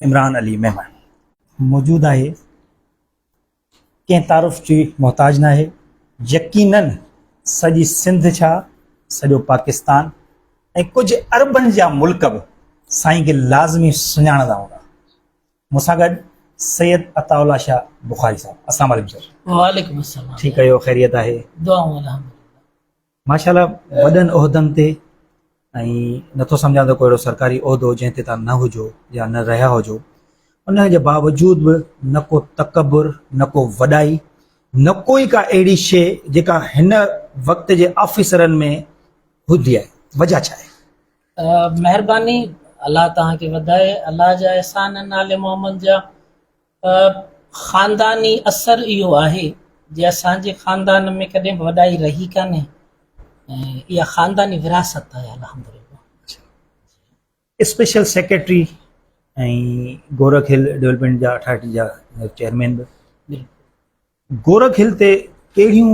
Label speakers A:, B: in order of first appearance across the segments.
A: عمران علي ميمڻ موجود آهي ڪنهن تعارف جي محتاج ناهي يقينن سڄي سنڌ ڇا سڄو پاڪستان ۽ ڪجهه اربن جا ملڪ به سائين کي لازمي سڃاڻندا هوندا مون سان گڏ سيد عطا الله شاهه بخاري صاحب السلام عليڪم سر وعليڪم السلام
B: ٺيڪ آهيو خيريت آهي
A: دعائون الحمدلله
B: ماشاء الله
A: وڏن عهدن تي ۽ نٿو سمجهان ته ڪو اهڙو سرڪاري عهدو جنهن تي توهان نه هجو يا نه رهيا هجو ان جي باوجود به نه ڪو تڪبر نه ڪو وڏائي نه ڪو ئي ڪا اهڙي شيء جيڪا هن وقت جي آفيسرن ۾ هوندي آهي وجهه ڇا آهي؟ مهرباني
B: الله توهان کي وڌائي الله جا احسان آهن آل محمد جا. خانداني اثر اهو آهي جي اسان جي خاندان ۾ ڪڏهن به وڏائي رهي ڪانهي ۽ اها خانداني وراثت آهي الحمدلله.
A: Special secretary ۽ Gorakh hill development جا اٺاٺ جا چيئرمين به. گورک هل تي ڪهڙيون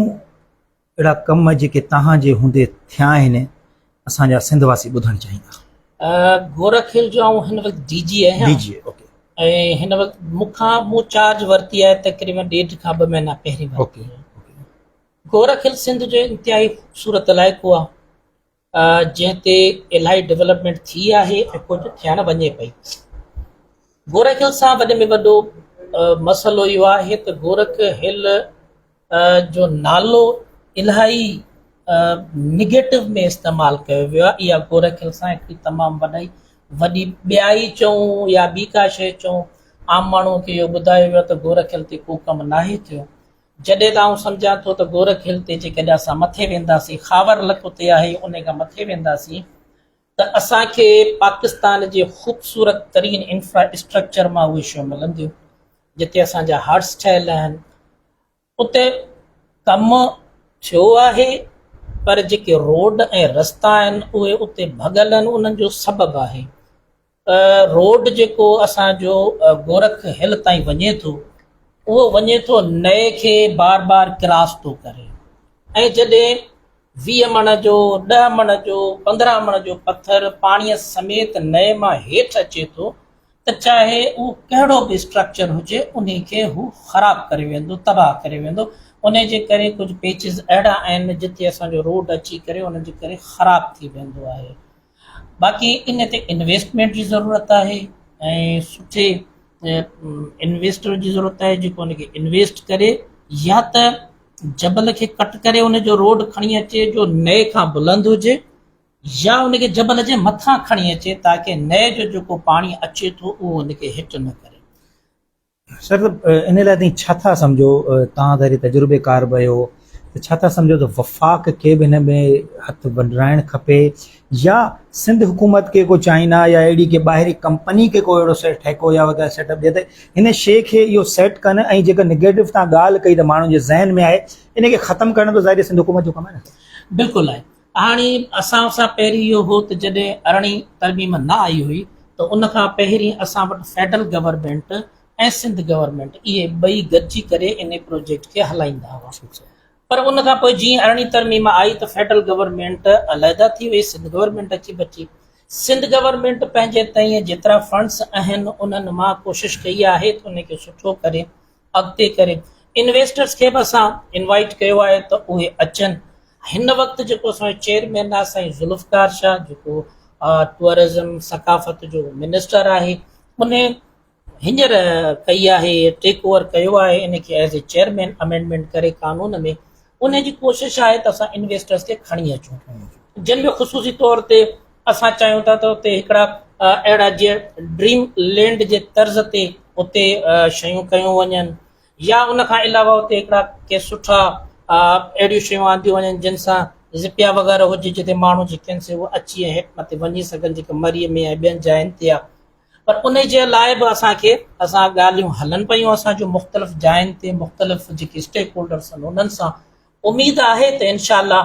A: اهڙا ڪم جيڪي توهان جي هوندي ٿيا آهن اسان جا سنڌ واسي ٻڌڻ چاهيندا. گورک هل جو
B: آئون هن وقت ڊي جي آهيان ۽
A: هن وقت
B: مون کان مون چارج ورتي آهي تقريبن ڏيڍ کان ٻه مهينا پهرين ورتي آهي. گورک هل سنڌ جو انتهائي خوبصورت علائقو آهي. جنهن تي الاهي ڊولپمينٽ ٿي آهي ۽ ڪجهه ٿيڻ وڃي پئي. گورک هل سان وڏي ۾ وڏو مسئلو اهو آهي ته گورک هل جو نالو الاهي نيگيٽو ۾ استعمال ڪيو ويو آهي اها گورک هل سان هڪڙي تمام وڏي وڏي ٻيائي چئون يا ٻي ڪا شيء چئون عام ماڻهو کي اهو ٻڌايو ويو آهي ته گورک هل تي ڪو ڪم ناهي ٿيو جڏهن ته آئون سمجهان ٿو ته گورک هل تي جيڪڏهن اسان مٿي وينداسين، خاور لڪ اتي آهي انهي کان مٿي وينداسين ته اسان کي پاڪستان جي خوبصورت ترين انفرا اسٽرڪچر مان اهي شيون ملنديون جتي اسان جا هارٽس ٺهيل آهن اتي ڪم ٿيو آهي پر جيڪي روڊ ۽ رستا آهن اهي اتي ڀڳل آهن انهن جو سبب آهي روڊ جيڪو اسان جو گورک هل تائين وڃي ٿو اهو وڃي ٿو نئي کي بار بار ڪراس ٿو ڪري ۽ جڏهن ويهه مڻ جو ڏهه مڻ جو پندرهن مڻ جو پٿر پاڻي سميت نئي مان هيٺ اچي ٿو ته چاهي اهو ڪهڙو به اسٽرڪچر هجي ان کي هو خراب ڪري ويندو تباهه ڪري ويندو ان جي ڪري ڪجهه پيچز اهڙا آهن جتي اسان جو روڊ اچي ڪري ان جي ڪري خراب ٿي ويندو آهي باقي ان تي انويسٽمينٽ جي ضرورت آهي ۽ سٺي انويسٽر جي ضرورت آهي جيڪو ان کي انويسٽ ڪري يا ته جبل کي ڪٽ ڪري ان جو روڊ کڻي اچي جو نئي کان بلند هجي يا ان کي جبل جي مٿان کڻي اچي تاڪي نئي جو جيڪو پاڻي اچي ٿو اهو ان کي هٽ نه ڪري سر
A: ان لاء تائين ڇا ٿا سمجهو؟ توهان ظاهري تجربيڪار به آهيو ته ڇا ٿا سمجهو ته وفاق کي به هن ۾ هٿ ونڊرائڻ کپي يا سنڌ حڪومت کي ڪو چائنا يا اهڙي ڪي ٻاهري ڪمپني کي ڪو اهڙو سيٽ ٺيڪو يا وغيره سيٽ اپ ڏي ته هن شي کي اهو سيٽ ڪن ۽ جيڪا نيگيٽو توهان ڳالهه ڪئي ته ماڻهن جي ذهن ۾ آهي ان کي ختم ڪرڻ ته ظاهري سنڌ حڪومت جو ڪم آهي نه. بلڪل آهي. هاڻي
B: اسان سان پهرين اهو هو ته جڏهن ارڙهين ترميم نه آئي هئي ته ان کان پهرين اسان وٽ فيڊرل گورنمينٽ ۽ سنڌ گورنمينٽ اهي ٻئي گڏجي ڪري ان پروجيڪٽ کي هلائيندا هئا پر ان کان پوء جيئن ارڙهين ترميم آئي ته فيڊرل گورنمينٽ عليحده ٿي وئي سنڌ گورنمينٽ اچي بچي سنڌ گورنمينٽ پنهنجي تئين جيترا فنڊز اهن انهن مان ڪوشش ڪئي آهي ته ان کي سٺو ڪري اڳتي ڪري انويسٽرس کي به اسان انوائيٽ ڪيو آهي ته اهي اچن هن وقت جيڪو اسان چيئرمين آهي سائين ذوالفقار شاهه جيڪو ٽوئرزم ثقافت جو منسٽر آهي ان هينئر ڪئي آهي ٽيڪ اوور ڪيو آهي ان کي ايز اي چيئرمين امينڊمينٽ ڪري قانون ۾ ان جي ڪوشش آهي ته اسان انويسٽرز کي کڻي اچون جن ۾ خصوصي طور تي اسان چاهيون ٿا ته اتي هڪڙا اهڙا جي ڊريم لينڊ جي طرز تي اتي شيون ڪيون وڃن يا ان کان علاوه اتي هڪڙا ڪي سٺا اهڙيون شيون آنديون وڃن جن سان زپيا وغيره هجي جتي ماڻهو جيڪن سي اچي هيٺ مٿي وڃي سگهن جيڪي مري ۾ ۽ ٻين جاين تي پر انهي جي لاء به اسان کي اسان ڳالهيون هلن پيون اسان جو مختلف جاين تي مختلف جيڪي اسٽيڪ هولڊرس آهن انهن سان اميد آهي ته انشاء الله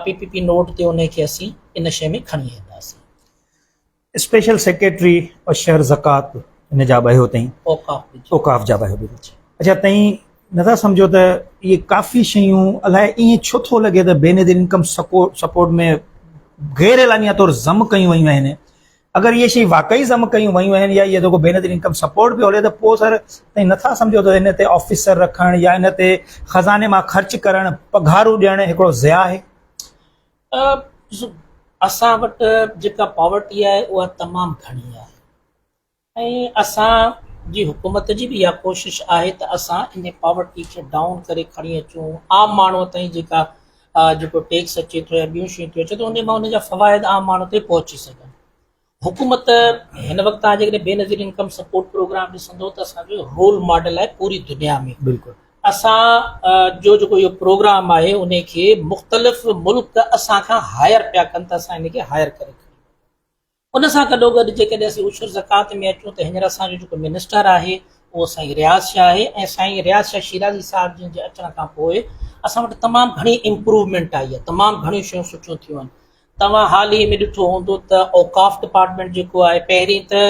B: پي پي پي نوٽ تي انهي کي اسين ان شي ۾ کڻي اينداسين. اسپيشل سيڪريٽري
A: شهر زڪوات ان جا بهيو تئين اوقاف جا بهيو اچا تئين نٿا سمجهو ته اهي ڪافي شيون الاء ائين ڇو ٿو لڳي ته بينظير انڪم سپورٽ ۾ غير اعلانيه طور ضم ڪيون ويون آهن اگر اهي شيون واقعي ضم ڪيون ويون آهن يا اهي جيڪو بي نظير انڪم سپورٽ پيو هلي ته پوء سر تائين نٿا سمجهو ته ان تي آفيسر رکڻ يا ان تي خزاني مان خرچ ڪرڻ پگهارون ڏيڻ هڪڙو ضياء آهي
B: اسان وٽ جيڪا پاورٽي آهي اها تمام گهڻي آهي ۽ اسان جي حڪومت جي به اها ڪوشش آهي ته اسان ان پاورٽي کي ڊائون ڪري کڻي اچون عام ماڻهو تائين جيڪا جيڪو ٽيڪس اچي ٿو يا ٻيون شيون ٿيون اچن ته انهن مان انهن جا فوائد عام ماڻهو تائين پهچي سگهن حڪومت هن وقت تان جيڪڏهن Benazir income support program ڏسندو ته اسان جو رول ماڊل آهي پوري دنيا ۾ بلڪل اسان جو جيڪو اهو پروگرام آهي ان کي مختلف ملڪ اسان کان هائر پيا ڪن ته اسان ان کي هائر ڪري ان سان گڏوگڏ جيڪڏهن اسين عشر زڪوات ۾ اچون ته هينئر اسان جو جيڪو منسٽر آهي اهو سائين رياض شاهه آهي ۽ سائين رياض شاهه شيرازي صاحب جن جي اچڻ کان پوء اسان وٽ تمام گهڻي امپروومينٽ آئي آهي تمام گهڻيون شيون سٺيون ٿيون آهن توهان حال ئي ۾ ڏٺو هوندو ته اوقاف ڊپارٽمينٽ جيڪو آهي پهرين ته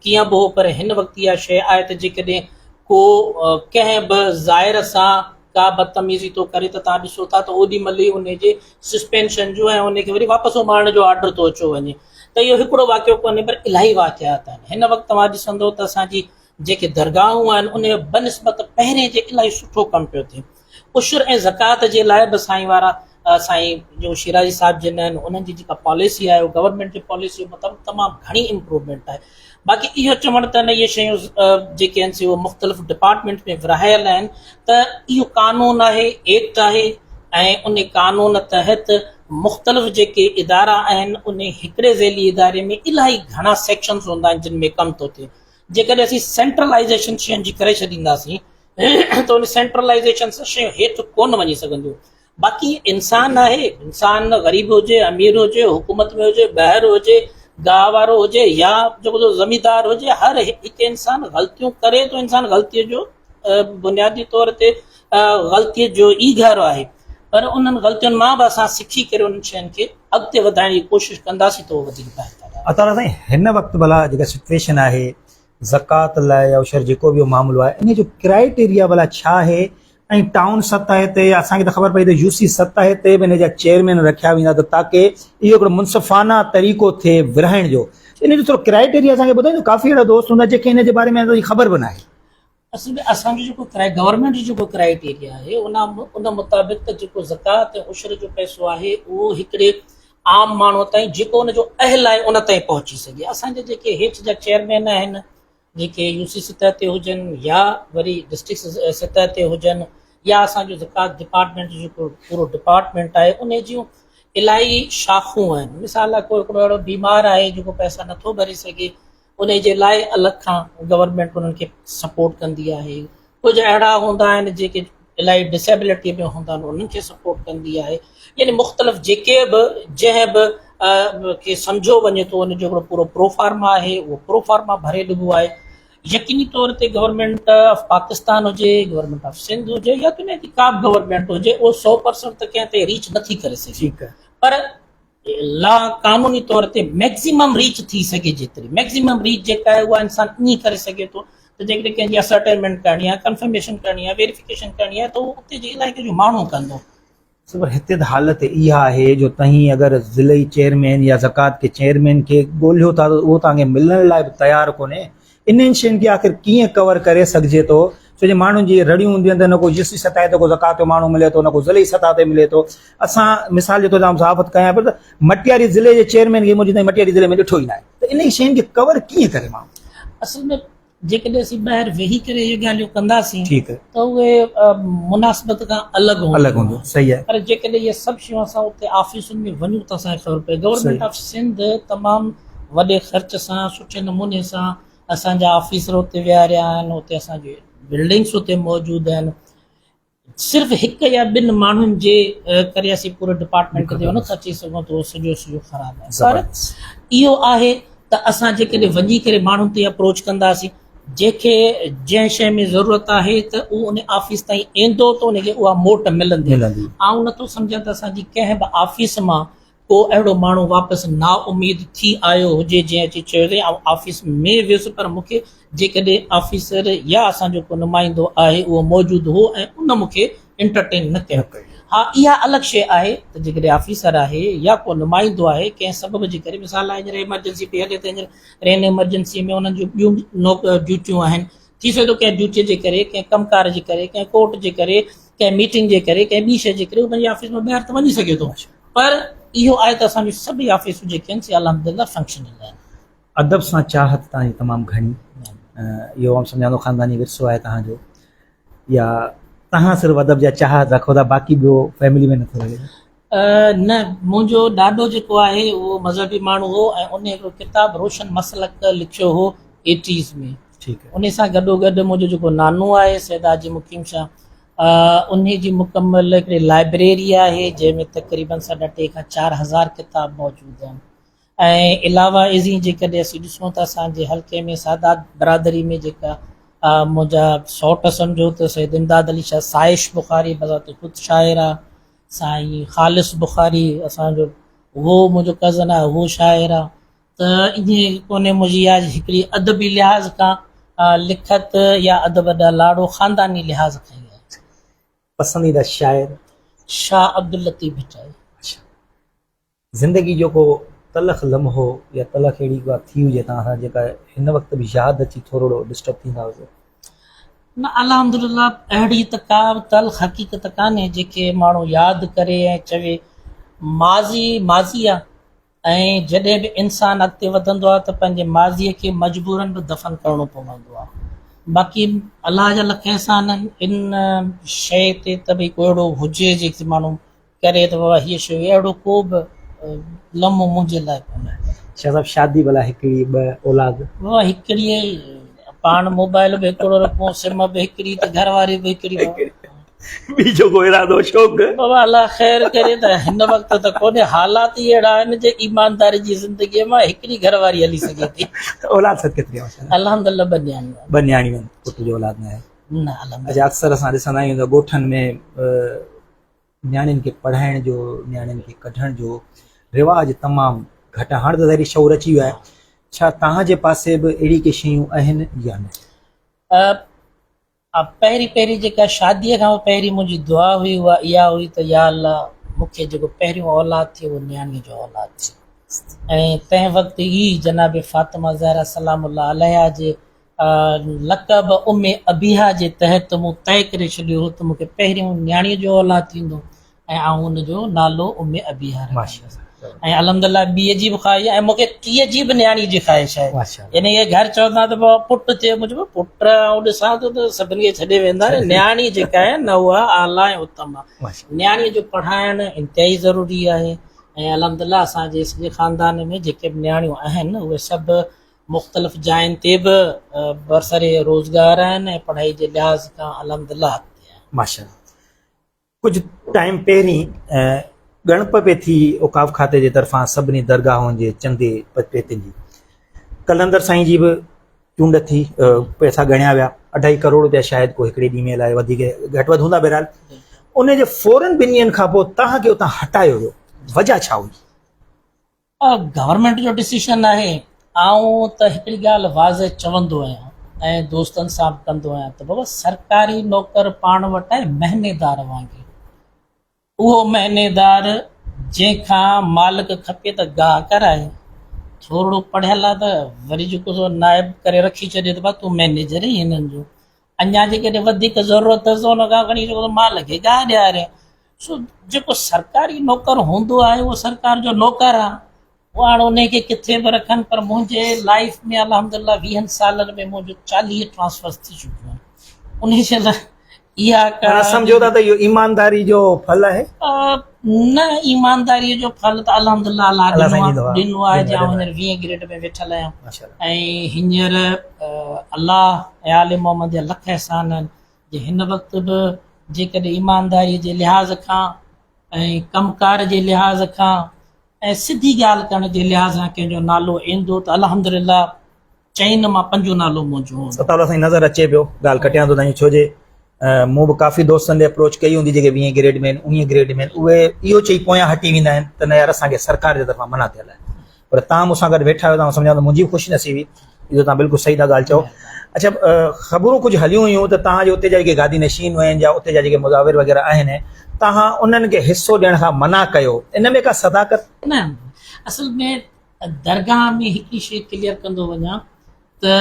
B: ڪيئن به هو پر هن وقت اها شيء آهي ته جيڪڏهن ڪو ڪنهن به زائر سان ڪا بدتميزي ٿو ڪري ته تان ڏسو ٿا ته اوڏي مهل ئي ان جي سسپينشن جو ۽ ان کي وري واپس اماڻڻ جو آرڊر ٿو اچيو وڃي ته اهو هڪڙو واقعو ڪونهي پر الاهي واقعات آهن هن وقت توهان ڏسندو ته اسان جي جيڪي درگاهون آهن ان بنسبت پهرين جي الاهي سٺو ڪم پيو ٿئي عشر ۽ زڪات جي لاء به سائين وارا سائين جو شيرازي صاحب جن آهن انهن جي جيڪا پاليسي آهي گورنمنٽ جي پاليسي مطابق تمام گهڻي امپروومينٽ آهي باقي اهو چوڻ ته اهي شيون جيڪي آهن سي اهي مختلف ڊپارٽمينٽ ۾ ورهايل آهن ته اهو قانون آهي، ايڪٽ آهي ۽ ان قانون تحت مختلف جيڪي ادارا آهن ان هڪڙي ذيلي اداري ۾ الاهي گهڻا سيڪشنز هوندا آهن جن ۾ ڪم ٿو ٿئي. جيڪڏهن اسين سينٽرلائيزيشن شين جي ڪري ڇڏينداسين ته ان سينٽرلائيزيشن سان شيون هيٺ ڪونه وڃي سگهنديون. باقي انسان آهي انسان غريب هجي امير هجي حڪومت ۾ هجي ٻاهر هجي گاهه وارو هجي يا جيڪو جو زميندار هجي هر هڪ انسان غلطيون ڪري ٿو انسان غلطيء جو بنيادي طور تي غلطيء جو ئي گهر آهي پر انهن غلطين مان به اسان سکي ڪري انهن شين کي اڳتي وڌائڻ جي ڪوشش ڪنداسين ته وڌيڪ بهتر آهي. اطهر سائين هن وقت
A: ڀلا جيڪا سچويشن آهي زڪوات لاء يا عشر جيڪو به معاملو آهي انهي جو ڪرائيٽيريا ڀلا ڇا آهي ۽ ٽائون سطح تي يا اسان کي ته خبر پئي ته يو سي سطح تي به انهي جا چيئرمين رکيا ويندا ته تاڪه اهو هڪڙو منصفانه طريقو ٿئي ورهائڻ جو انهي جو ٿورو ڪرائيٽيريا اسان کي ٻڌائيندو ڪافي اهڙا دوست هوندا جنهن کي انهي جي باري ۾ اندازي خبر به ناهي اصل ۾ اسان
B: جو جيڪو گورنمينٽ جو جيڪو ڪرائيٽيريا آهي ان مطابق ته جيڪو زڪوات ۽ عشر جو پئسو آهي اهو هڪڙي عام ماڻهو تائين جيڪو ان جو اهل آهي ان تائين پهچي سگهي اسان جا جيڪي هيٺ جا چيئرمين آهن جيڪي يو سي سطح تي هجن يا وري ڊسٽرڪٽ سطح تي هجن يا اسان جو زڪوات ڊپارٽمنٽ جيڪو پورو ڊپارٽمنٽ آهي ان جون الاهي شاخون آهن مثال لاء ڪو هڪڙو اهڙو بيمار آهي جيڪو پئسا نٿو ڀري سگهي انهي جي لاء الڳ کان گورنمينٽ انهن کي سپورٽ ڪندي آهي ڪجهه اهڙا هوندا آهن جيڪي الائي ڊسيبلٽي ۾ هوندا آهن انهن کي سپورٽ ڪندي آهي يعني مختلف جيڪي به جنهن به کي سمجهيو وڃي ٿو ان جو هڪڙو پورو پروفارما آهي اهو پروفارما ڀري ڏبو آهي يقيني طور تي گورنمينٽ آف پاڪستان هجي گورنمينٽ آف سنڌ هجي يا دنيا جي ڪا به گورنمينٽ هجي اهو سو پرسنٽ ته ڪنهن تي ريچ نٿي ڪري سگهي پر لا قانوني طور تي ميڪسيمم ريچ ٿي سگهي جيتري ميڪسيمم ريچ جيڪا آهي اها انسان ائين ڪري سگهي ٿو ته جيڪڏهن ڪنهن جي اسرٽينمينٽ ڪرڻي آهي ڪنفرميشن ڪرڻي آهي ويريفڪيشن ڪرڻي آهي ته اتي جي علائقي جو ماڻهو ڪندو. صبر هتي
A: ته حالت اها آهي جو تهين اگر ضلعي چيئرمين يا زڪوات ڪي چيئرمين کي ڳولهيو ٿا ته اهو توهان کي ملڻ لاء به تيار ڪونهي انهن شين کي آخر ڪيئن ڪور ڪري سگهجي ٿو ڇو جو ماڻهن جي رڙيون هونديون آهن ته نه ڪو جسي سطح تي ڪو زڪوات جو ماڻهو ملي ٿو نه ڪو ضلعي سطح تي ملي ٿو اسان مثال جي طور تي صحافت ڪيان پيو ته مٽياري ضلعي جي چيئرمين کي منهنجي تائين مٽياري ضلعي ۾ ڏٺو ئي ناهي ته انهن شين کي ڪور ڪيئن ڪري ماڻهو اصل ۾
B: جيڪڏهن اسين ٻاهر ويهي ڪري اهي ڳالهيون ڪنداسين ته اهي مناسبت کان الڳ هونديون صحيح آهي پر جيڪڏهن
A: اهي سڀ
B: شيون اسان اتي آفيسن ۾ وڃون ته اسان کي خبر پوي گورنمينٽ آف سنڌ تمام وڏي خرچ سان سٺي نموني سان اسانجا آفيسر اتي ويهاريا آهن اتي اسانجي بلڊنگس اتي موجود آهن صرف هڪ يا ٻن ماڻهن جي ڪري اسين پوري ڊپارٽمنٽ تي نٿا اچي سگهون ته سڄو سڄو خراب آهي پر اهو آهي ته اسان جيڪڏهن وڃي ڪري ماڻهن تي اپروچ ڪنداسين جيڪي جنهن شيء ۾ ضرورت آهي ته اهو ان آفيس تائين ايندو ته ان کي اها موٽ ملندي آئون نٿو سمجهان ته اسانجي ڪنهن به آفيس مان ڪو اهڙو ماڻهو واپس نااميد ٿي آيو هجي جنهن اچي چيو هجي آئون آفيس ۾ ويس پر مون کي جيڪڏهن آفيسر يا اسان جو ڪو نمائندو آهي اهو موجود هو ۽ ان مون کي انٽرٽين نه ڪيو. ها اها الڳ شيء آهي ته جيڪڏهن آفيسر آهي يا ڪو نمائندو آهي ڪنهن سبب جي ڪري مثال لاء هينئر ايمرجنسي پئي هلي ته هينئر رين ايمرجنسي ۾ انهن جون ٻيون ڊيوٽيون آهن ٿي سگهي ٿو ڪنهن ڊيوٽيء جي ڪري، ڪنهن ڪم ڪار جي ڪري، ڪنهن ڪورٽ جي ڪري، ڪنهن ميٽنگ جي ڪري، ڪنهن ٻي شيء جي ڪري هو پنهنجي آفيس مان ٻاهر ته وڃي سگهي ٿو پر اهو آهي ته اسان جون سڀئي آفيسون جيڪي آهن سي الحمدلله فنڪشنل آهن. ادب سان
A: چاهت توهان جي تمام گهڻي اهو آئون سمجهان ٿو خانداني ورثو آهي توهان جو يا توهان صرف ادب جا چاهت رکو ٿا باقي ٻيو فيملي ۾ نٿو رهي. نه،
B: منهنجو ڏاڏو جيڪو آهي اهو مذهبي ماڻهو هو ۽ ان هڪڙو ڪتاب روشن مسلڪ لکيو هو ايٽيز ۾ ان سان گڏو
A: گڏ منهنجو
B: جيڪو نانو آهي سيد حاجي مقيم شاهه ان جي مڪمل هڪڙي لائبريري آهي جنهن ۾ تقريبن ساڍا ٽي کان چار هزار ڪتاب موجود آهن ۽ علاوه ازين جيڪڏهن اسين ڏسون ته اسانجي حلقي ۾ سادات برادري ۾ جيڪا منهنجا سئوٽ سمجهو ته سيد امداد علي شاهه سائش بخاري بذات خود شاعر آهي سائين خالص بخاري اسان جو اهو منهنجو ڪزن آهي اهو شاعر آهي ته ائين ڪونهي منهنجي اها هڪڙي ادبي لحاظ کان لکت يا ادب ڏانهن لاڙو خانداني لحاظ کان ئي آهي. پسنديده
A: شاعر؟ شاهه
B: عبداللطيف ڀٽائي.
A: زندگي جو ڪو تلخ لمحو يا تلخ اهڙي ڪا ٿي هجي توهان سان جيڪا هن وقت به ياد اچي ٿورڙو ڊسٽرب ٿيندا هجو. نه
B: الحمدلله اهڙي ته ڪا به تلخ حقيقت ڪانهي جيڪي ماڻهو ياد ڪري ۽ چوي ماضي ماضي آ ۽ جڏهن به انسان اڳتي وڌندو آ ته پنهنجي ماضي کي مجبورن به دفن ڪرڻو پوندو آ باقي الله جا لک احسان آهن ان شئي تي ته ڀئي ڪو اهڙو هجي جيڪي ماڻهو ڪري ته بابا هيء شيء اهڙو ڪو به لمحو منهنجي لاء ڪونه آهي. شاهه صاحب شادي
A: ڀلا هڪڙي ٻه اولاد. بابا هڪڙي ئي
B: پاڻ موبائل به هڪڙو رکون سم به هڪڙي ته گهر واري به هڪڙي بابا. ٻيجو
A: ڪو ارادو شوق. بابا الله خير
B: ڪري ته هن وقت ته ڪونهي حالات ئي اهڙا آهن جي ايمانداري جي زندگي مان هڪڙي گهر واري هلي سگهي ٿي. ته اولاد سڀ ڪيتري
A: آهن ماشاءالله. الحمدلله ٻه نياڻيون
B: آهن. ٻه نياڻيون آهن پٽ
A: جو اولاد ناهي. نه الحمدلله. اچا
B: اڪثر اسان ڏسندا
A: آهيون ته ڳوٺن ۾ نياڻين کي پڙهائڻ جو نياڻين کي ڪڍڻ جو رواج تمام گهٽ آهي هاڻ ته ظاهري شعور اچي ويو آهي ڇا توهان جي پاسي به اهڙي ڪي شيون آهن يا نه
B: پهرين پهرين جيڪا شادي کان پهرين منهنجي دعا هئي اها اها هئي ته يا الله مون کي جيڪو پهريون اولاد ٿئي اهو نياڻي جو اولاد ٿئي ۽ تنهن وقت ئي جناب فاطمه زهرا سلام الله عليها جي لقب ام ابيها جي تحت مون طئي ڪري ڇڏيو هو ته مون کي پهريون نياڻيء جو اولاد ٿيندو ۽ آئون ان جو نالو ام ابيها رکندس ۽ الحمدلله ٻيء جي به خواهش آهي ۽ مون کي ٽيء جي به نياڻيء جي خواهش آهي يعني اهي گهر چوندا ته پٽ ٿئي مون چيو پٽ آئون ڏسان ٿو ته سڀني کي ڇڏي ويندا آهن نياڻي جيڪا آهي نه اها اعليٰ ۽ اتم آهي نياڻيء جو پڙهائڻ انتهائي ضروري آهي ۽ الحمدلله اسان جي سڄي خاندان ۾ جيڪي به نياڻيون آهن اهي سڀ مختلف جاين تي به برسر روزگار آهن ۽ پڙهائي جي لحاظ کان الحمدلله اڳتي آهن. ماشاءالله
A: ڪجهه ٽائيم پهرين ڳڻپ پئي ٿي اوقاف کاتي جي طرفان سڀني درگاهن جي چندي پتپيتين جي قلندر سائين جي به چونڊ ٿي پئسا ڳڻيا ويا اڍائي ڪروڙ روپيا شايد ڪو هڪڙي ڏينهن ۾ لاء وڌيڪ گهٽ وڌ هوندا بهرحال ان جي فورن ٻن ڏينهن کان پوء توهان کي اتان هٽايو ويو وجهه ڇا هئي؟
B: گورنمينٽ جو ڊسيشن آهي آئون ته هڪڙي ڳالهه واضح چوندو آهيان ۽ دوستن سان به ڪندو آهيان ته بابا سرڪاري نوڪر پاڻ وٽ آهي مهنيدار وانگي اهو مهنيدار جنهن کان مالڪ کپي ته گاهه ڪرائي ٿورڙو پڙهيل آهي ته وري جيڪو نائب ڪري رکي ڇڏي ته با تون مينيجر هي هنن جو اڃا جي ڪڏهن وڌيڪ ضرورت اٿس ته ان کان کڻي ڏيو مال کي گاهه ڏياري سو جيڪو سرڪاري نوڪر هوندو آهي اهو سرڪار جو نوڪر آهي هو هاڻ ان کي ڪٿي به رکن پر منهنجي لائف ۾ الحمد لله ويهن سالن ۾ منهنجو چاليهه ٽرانسفرس ٿي چڪيون آهن ان جي لاء اها ڪا سمجھو ٿا ته اهو
A: ايمانداري جو ڦل آهي نه
B: ايمانداري جو ڦل ته الحمدالله الله ڏنو آهي جي آئون هينئر ويهين گريڊ ۾ ويٺل آهيان ۽ هينئر الله ۽ آل محمد جا لک احسان آهن جي هن وقت به جيڪڏهن ايمانداري جي لحاظ کان ۽ ڪم ڪار جي لحاظ کان ۽ سڌي ڳالهه ڪرڻ جي لحاظ کان ڪنهن جو نالو ايندو ته الحمدالله چئين نه مان پنجون نالو منهنجو هوندو. ستاء الله سائين نظر اچي پيو
A: ڳالهه ڪٽيان ٿو سائين ڇو جي مون به ڪافي دوستن ڏي اپروچ ڪئي هوندي جيڪي ويهين گريڊ ۾ آهن اڻيهين گريڊ ۾ آهن اهي اهو چئي پويان هٽي ويندا آهن ته نه يار اسان کي سرڪار جي طرفان منع ٿيل آهي پر تان مون سان گڏ ويٺا آهيو ته آئون سمجهان ٿو منهنجي به خوش نصيبي اهو تان بلڪل صحيح ٿا ڳالهه چئو اڇا خبرون ڪجهه هليون هيون ته تان جي اتي جا جيڪي گادي نشين آهن جا اتي جا جيڪي مزاور وغيره آهن تان انهن کي حصو ڏيڻ کان منع ڪيو ان ۾ ڪا صداقت نه
B: اصل ۾ درگاهه ۾ هڪڙي شيء ڪليئر ڪندو وڃان ته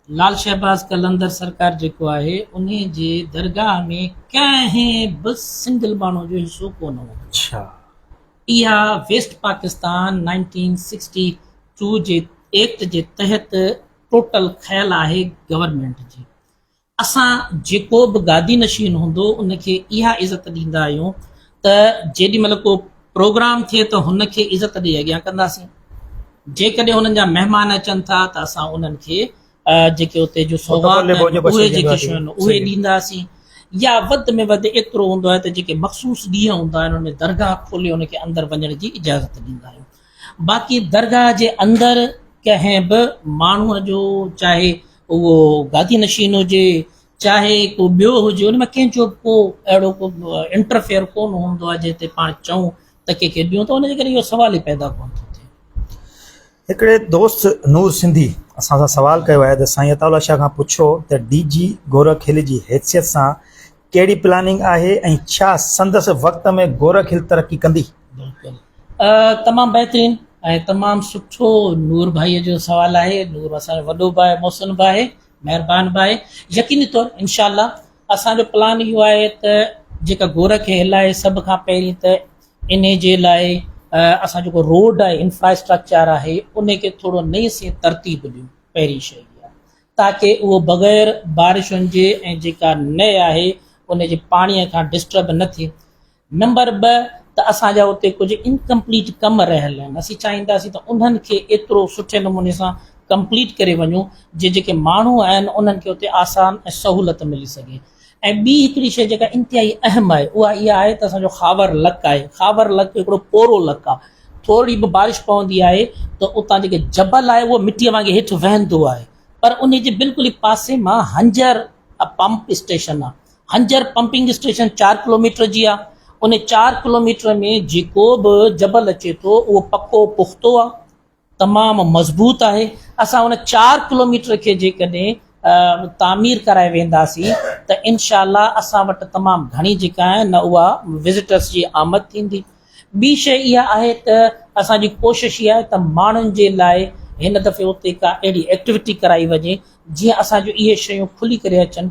B: لال شهباز قلندر سرڪار جيڪو آهي انهي جي درگاهه ۾ ڪنهن به سنگل ماڻهو جو حصو ڪو نه هوندو اڇا
A: اها
B: west Pakistan nineteen sixty two جي ايڪٽ جي تحت ٽوٽل کيل آهي گورنمينٽ جي اسان جيڪو به گادي نشين هوندو ان کي اها عزت ڏيندا آهيون ته جيڏي مهل ڪو پروگرام ٿئي ته هن کي عزت ڏئي اڳيان ڪنداسين جيڪڏهن هنن جا مهمان اچن ٿا ته اسان انهن کي جيڪي اتي جو سوغات اهي جيڪي شيون آهن اهي ڏينداسين يا وڌ ۾ وڌ ايترو هوندو آهي ته جيڪي مخصوص ڏينهن هوندا آهن ان ۾ درگاهه کولي ان کي اندر وڃڻ جي اجازت ڏيندا آهيون باقي درگاهه جي اندر ڪنهن به ماڻهوء جو چاهي اهو گادي نشين هجي چاهي ڪو ٻيو هجي ان ۾ ڪنهن جو به ڪو اهڙو ڪو انٽرفيئر ڪونه هوندو آهي جنهن تي پاڻ چئون ته ڪنهن کي ڏيون ته ان جي ڪري اهو سوال ئي پيدا ڪونه ٿو ٿئي. هڪڙي
A: دوست نور سنڌي اسان سان سوال ڪيو آهي ته سائين عطاء الله شاهه کان پڇو ته ڊي جي گورک هل جي حيثيت سان ڪهڙي پلاننگ آهي ۽ ڇا سندس وقت ۾ گورک هل ترقي ڪندي؟ بلڪل
B: تمام بهترين ۽ تمام سٺو نور ڀائي جو سوال آهي نور اسان جو وڏو ڀاء محسن ڀاء مهربان ڀاء يقيني طور انشاء الله اسان جو پلان اهو آهي ته جيڪا گورک هل آهي سڀ کان پهرين ته انهي جي لاء اسان جيڪو روڊ آهي انفراسٽرڪچر آهي انهي کي ٿورو نئين سين ترتيب ڏيون پهرين شئي تاڪي اهو بغير بارشن جي ۽ جيڪا نئي آهي انهي جي پاڻي کان ڊسٽرب نه ٿئي نمبر ٻه ته اسان جا اتي ڪجهه انڪمپليٽ ڪم رهيل آهن اسين چاهينداسين ته انهن کي ايترو سٺي نموني سان ڪمپليٽ ڪري وڃون جي جيڪي ماڻهو آهن انهن کي اتي آسان ۽ سهولت ملي سگهي ۽ ٻي هڪڙي شيء جيڪا انتهائي اهم آهي اها اها آهي ته اسان جو خاور لڪ آهي خاور لڪ هڪڙو پورو لڪ آهي ٿورڙي به بارش پوندي آهي ته اتان جيڪي جبل آهي اهو مٽيء وانگي هيٺ وهندو آهي پر انهي جي بلڪل ئي پاسي مان هنجر پمپ اسٽيشن آهي هنجر پمپنگ اسٽيشن چار ڪلوميٽر جي آهي، ان چار ڪلوميٽر ۾ جيڪو به جبل اچي ٿو اهو پڪو پختو آهي، تمام مضبوط آهي، اسان ان چار ڪلوميٽر کي جيڪڏهن تعمير ڪرائي وينداسين ته انشاء الله اسان وٽ تمام گهڻي جيڪا آهي نه اها وزٽرس جي آمد ٿيندي، ٻي شيء اها آهي ته اسان جي ڪوشش اها آهي ته ماڻهن جي لاء هن دفعي اتي ڪا اهڙي ايڪٽيوٽي ڪرائي وڃي جيئن اسان جون اهي شيون کلي ڪري اچن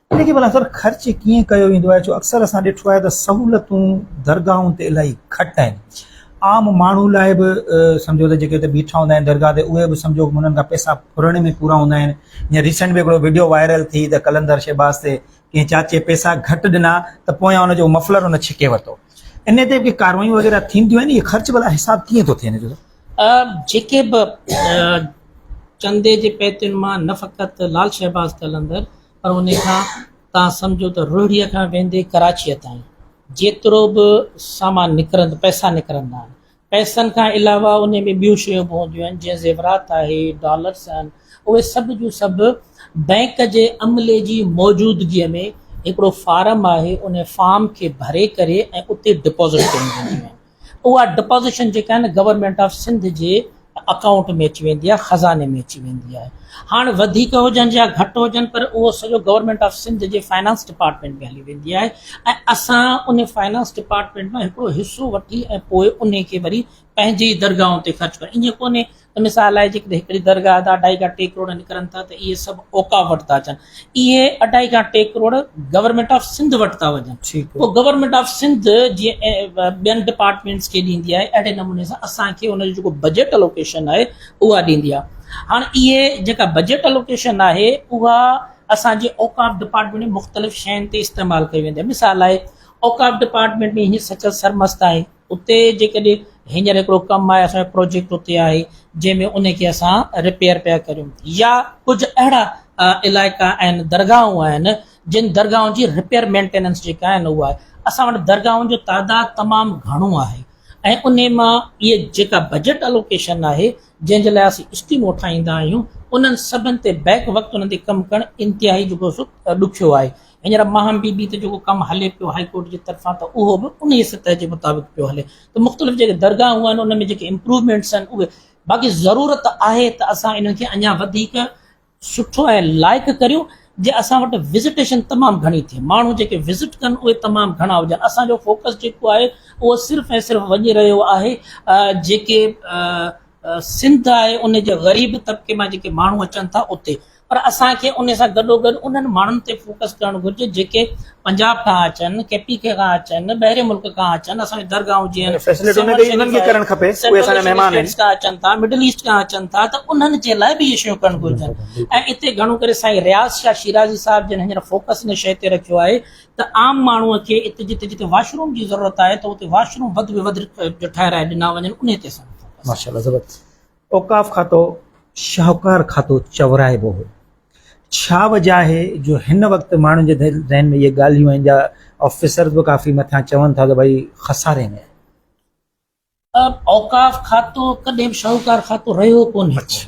A: ان کي ڀلا سر خرچ ڪيئن ڪيو ويندو آهي؟ ڇو اڪثر اسان ڏٺو آهي ته سهولتون درگاهن تي الاهي گهٽ آهن. عام ماڻهو لاء به سمجهو ته جيڪي اتي بيٺا هوندا آهن درگاهه تي اهي به سمجهو ته انهن کان پئسا ڦرڻ ۾ پورا هوندا آهن. جيئن ريسينٽ ۾ هڪڙو وڊيو وائرل ٿي ته قلندر شهباز تي ڪنهن چاچي پئسا گهٽ ڏنا ته پويان ان جو مفلر ان ڇڪي ورتو. انهي تي ڪي ڪاروايون وغيره ٿينديون آهن؟ اهي خرچ ڀلا حساب ڪيئن ٿو ٿئي ان جو؟ جيڪي
B: به چندي جي پئتين مان نه فقط لال شهباز قلندر پر ان کان تان سمجهو ته روهڙيء کان ويندي ڪراچيء تائين جيترو به سامان نڪرندو پئسا نڪرندا آهن پئسن کان علاوه ان ۾ ٻيون شيون به هونديون آهن جيئن زيورات آهي ڊالرس آهن اهي سڀ جون سڀ بئنڪ جي عملي جي موجودگيء ۾ هڪڙو فارم آهي ان فارم کي ڀري ڪري ۽ اتي ڊپوزٽ ڪري ڏينديون آهن اها ڊپازيشن جيڪا آهي نه گورنمينٽ آف سنڌ جي اڪائونٽ ۾ اچي ويندي آهي خزاني ۾ اچي ويندي آهي هاڻ وڌيڪ هجن يا گهٽ هجن پر اهو سڄو گورنمينٽ آف سنڌ جي فائنانس ڊپارٽمينٽ ۾ هلي ويندي آهي ۽ اسان ان فائنانس ڊپارٽمينٽ مان هڪڙو حصو وٺي ۽ پوء ان کي وري پنهنجي درگاهن تي خرچ ڪري ائين ڪونهي ته مثال لاء جيڪڏهن هڪڙي درگاهه جا اڍائي کان ٽي ڪروڙ نڪرن ٿا ته اهي سڀ اوقاف وٽ ٿا اچن اهي اڍائي کان ٽي ڪروڙ گورنمينٽ آف سنڌ وٽ ٿا وڃن پوء گورنمينٽ آف سنڌ جيئن ٻين ڊپارٽمينٽس کي ڏيندي آهي اهڙي نموني سان اسان کي ان جو جيڪو بجيٽ الوڪيشن آهي اها ڏيندي آهي هاڻ اهي جيڪا بجيٽ الوڪيشن آهي اها اسان جي اوقاف ڊپارٽمينٽ ۾ مختلف شين تي استعمال ڪئي ويندي آهي مثال لاء اوقاف ڊپارٽمينٽ ۾ هي سچل سرمست آهي اتي جيڪڏهن هينئر هڪڙو ڪم آهي اسان جو پروجيڪٽ اتي آهي جنهن ۾ ان کي اسان ريپيئر پيا ڪريون يا ڪجهه اهڙا علائقا آهن درگاهون آهن جن درگاهن جي ريپيئر مينٽيننس جيڪا آهي نه اها اسان وٽ درگاهن جو تعداد تمام گهڻو آهي ۽ ان مان اهي جيڪا بجيٽ الوڪيشن آهي جنهن جي لاء اسين اسڪيمون ٺاهيندا آهيون انهن سڀن تي بيڪ وقت انهن تي ڪم ڪرڻ انتهائي جيڪو سو ڏکيو آهي هينئر ماهم بي بي تي جيڪو ڪم هلي پيو هائي ڪورٽ جي طرفان ته اهو به انهيء سطح جي مطابق پيو هلي ته مختلف جيڪي درگاهون آهن ان ۾ جيڪي امپروومينٽس آهن اهي باقي ضرورت آهي ته اسان انهن کي اڃا وڌيڪ سٺو ۽ لائق ڪريون جي اسان وٽ وزٽيشن تمام گهڻي ٿئي ماڻهو جيڪي وزٽ ڪن اهي تمام گهڻا هجن اسان جو فوڪس جيڪو آهي اهو صرف ۽ صرف وڃي رهيو آهي جيڪي سنڌ آهي ان جي غريب طبقي مان جيڪي ماڻهو اچن ٿا اتي پر اسان کي ان سان گڏوگڏ انهن ماڻهن تي فوڪس ڪرڻ گهرجي جيڪي پنجاب کان اچن، ڪي پي ڪي کان اچن، ٻاهرين ملڪ کان اچن، اسان جون درگاهون جيئن يعني فيسلٽي سنور انهن کي انهن کي شريف ڪرڻ آهي، کپي، اهي سينٽرل اسان جا ايشين مهمان آهن. اسٽيٽس کان اچن ٿا، مڊل ايسٽ کان اچن ٿا ته انهن جي لاء به اهي شيون ڪرڻ گهرجن ۽ اتي گهڻو ڪري سائين رياض شاهه شيرازي صاحب جن هينئر فوڪس ان شيء تي رکيو آهي ته عام ماڻهوء کي اتي جتي جتي واش روم جي ضرورت آهي ته اتي واش روم وڌ ۾ وڌ ٺهرائي ڏنا وڃن انهي تي اسان جو فوڪس آهي. ماشاءالله زبردست
A: اوقاف کاتو شاهوڪار کاتو چورائبو هو. ڇا وجهه آهي جو هن وقت ماڻهن جي ذهن ۾ اهي ڳالهيون آهن جا آفيسرز به ڪافي مٿان چون ٿا ته ڀئي خساري ۾ آهي.
B: اوقاف کاتو ڪڏهن به شاهوڪار کاتو رهيو ڪونهي ٿو.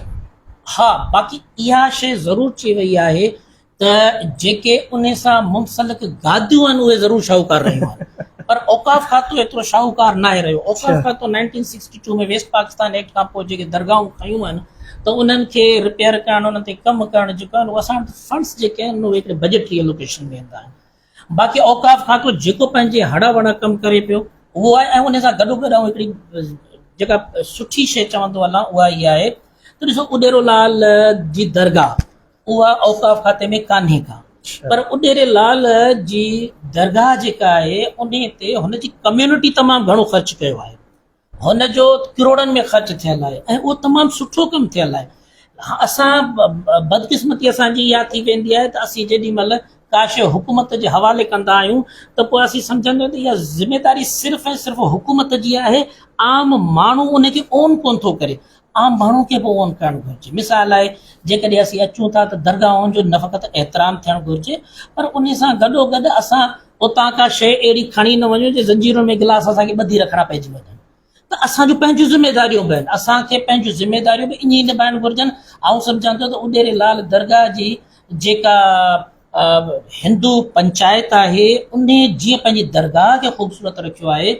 B: ها باقي اها شيء ضرور چئي وئي آهي ته جيڪي ان سان منسلڪ گاديون آهن اهي ضرور شاهوڪار رهيون آهن پر اوقاف کاتو ايترو شاهوڪار ناهي رهيو اوقاف اڇا کاتو nineteen sixty two ۾ west Pakistan act کان پوء جيڪي درگاهون ٺهيون آهن ته انهن کي رپيئر ڪرڻ انهن تي ڪم ڪرڻ جيڪو آهن اهو اسان وٽ فنڊس جيڪي آهن اهي هڪڙي بجيٽري الوڪيشن ۾ ايندا آهن باقي اوقاف کاتو جيڪو پنهنجي هڙ وڙ ڪم ڪري پيو اهو آهي ۽ ان سان گڏوگڏ آئون هڪڙي جيڪا سٺي شيء چوندو هلان اها هيء آهي ته ڏسو اڏيرو لال جي درگاهه اها اوقاف کاتي ۾ ڪانهي ڪا پر اڏيري لال جي درگاهه جيڪا آهي انهي تي هن جي ڪميونٽي تمام گهڻو خرچ ڪيو آهي هن جو ڪروڙن ۾ خرچ ٿيل آهي ۽ اهو تمام سٺو ڪم ٿيل آهي اسان بدقسمتي اسان جي اها ٿي ويندي آهي ته اسين جيڏي مهل ڪاشي حڪومت جي حوالي ڪندا آهيون ته پوء اسين سمجهندا آهيون ته اها ذميواري صرف ۽ صرف حڪومت جي آهي عام ماڻهو ان کي اون ڪونه ٿو ڪري عام ماڻهو کي به اهو عمل ڪرڻ گهرجي مثال لاء جيڪڏهن اسين اچون ٿا ته درگاهن جو نه فقط احترام ٿيڻ گهرجي پر ان سان گڏو گڏ اسان اتان ڪا شيء اهڙي کڻي نه وڃون جي زنجيرن ۾ گلاس اسان کي ٻڌي رکڻا پئجي وڃن ته اسان جون پنهنجون ذميداريون به آهن اسان کي پنهنجون ذميداريون به ائين نڀائڻ گهرجن آئون سمجهان ٿو ته اڏيري لال درگاهه جي جيڪا هندو پنچائت آهي ان جيئن پنهنجي درگاهه کي خوبصورت رکيو آهي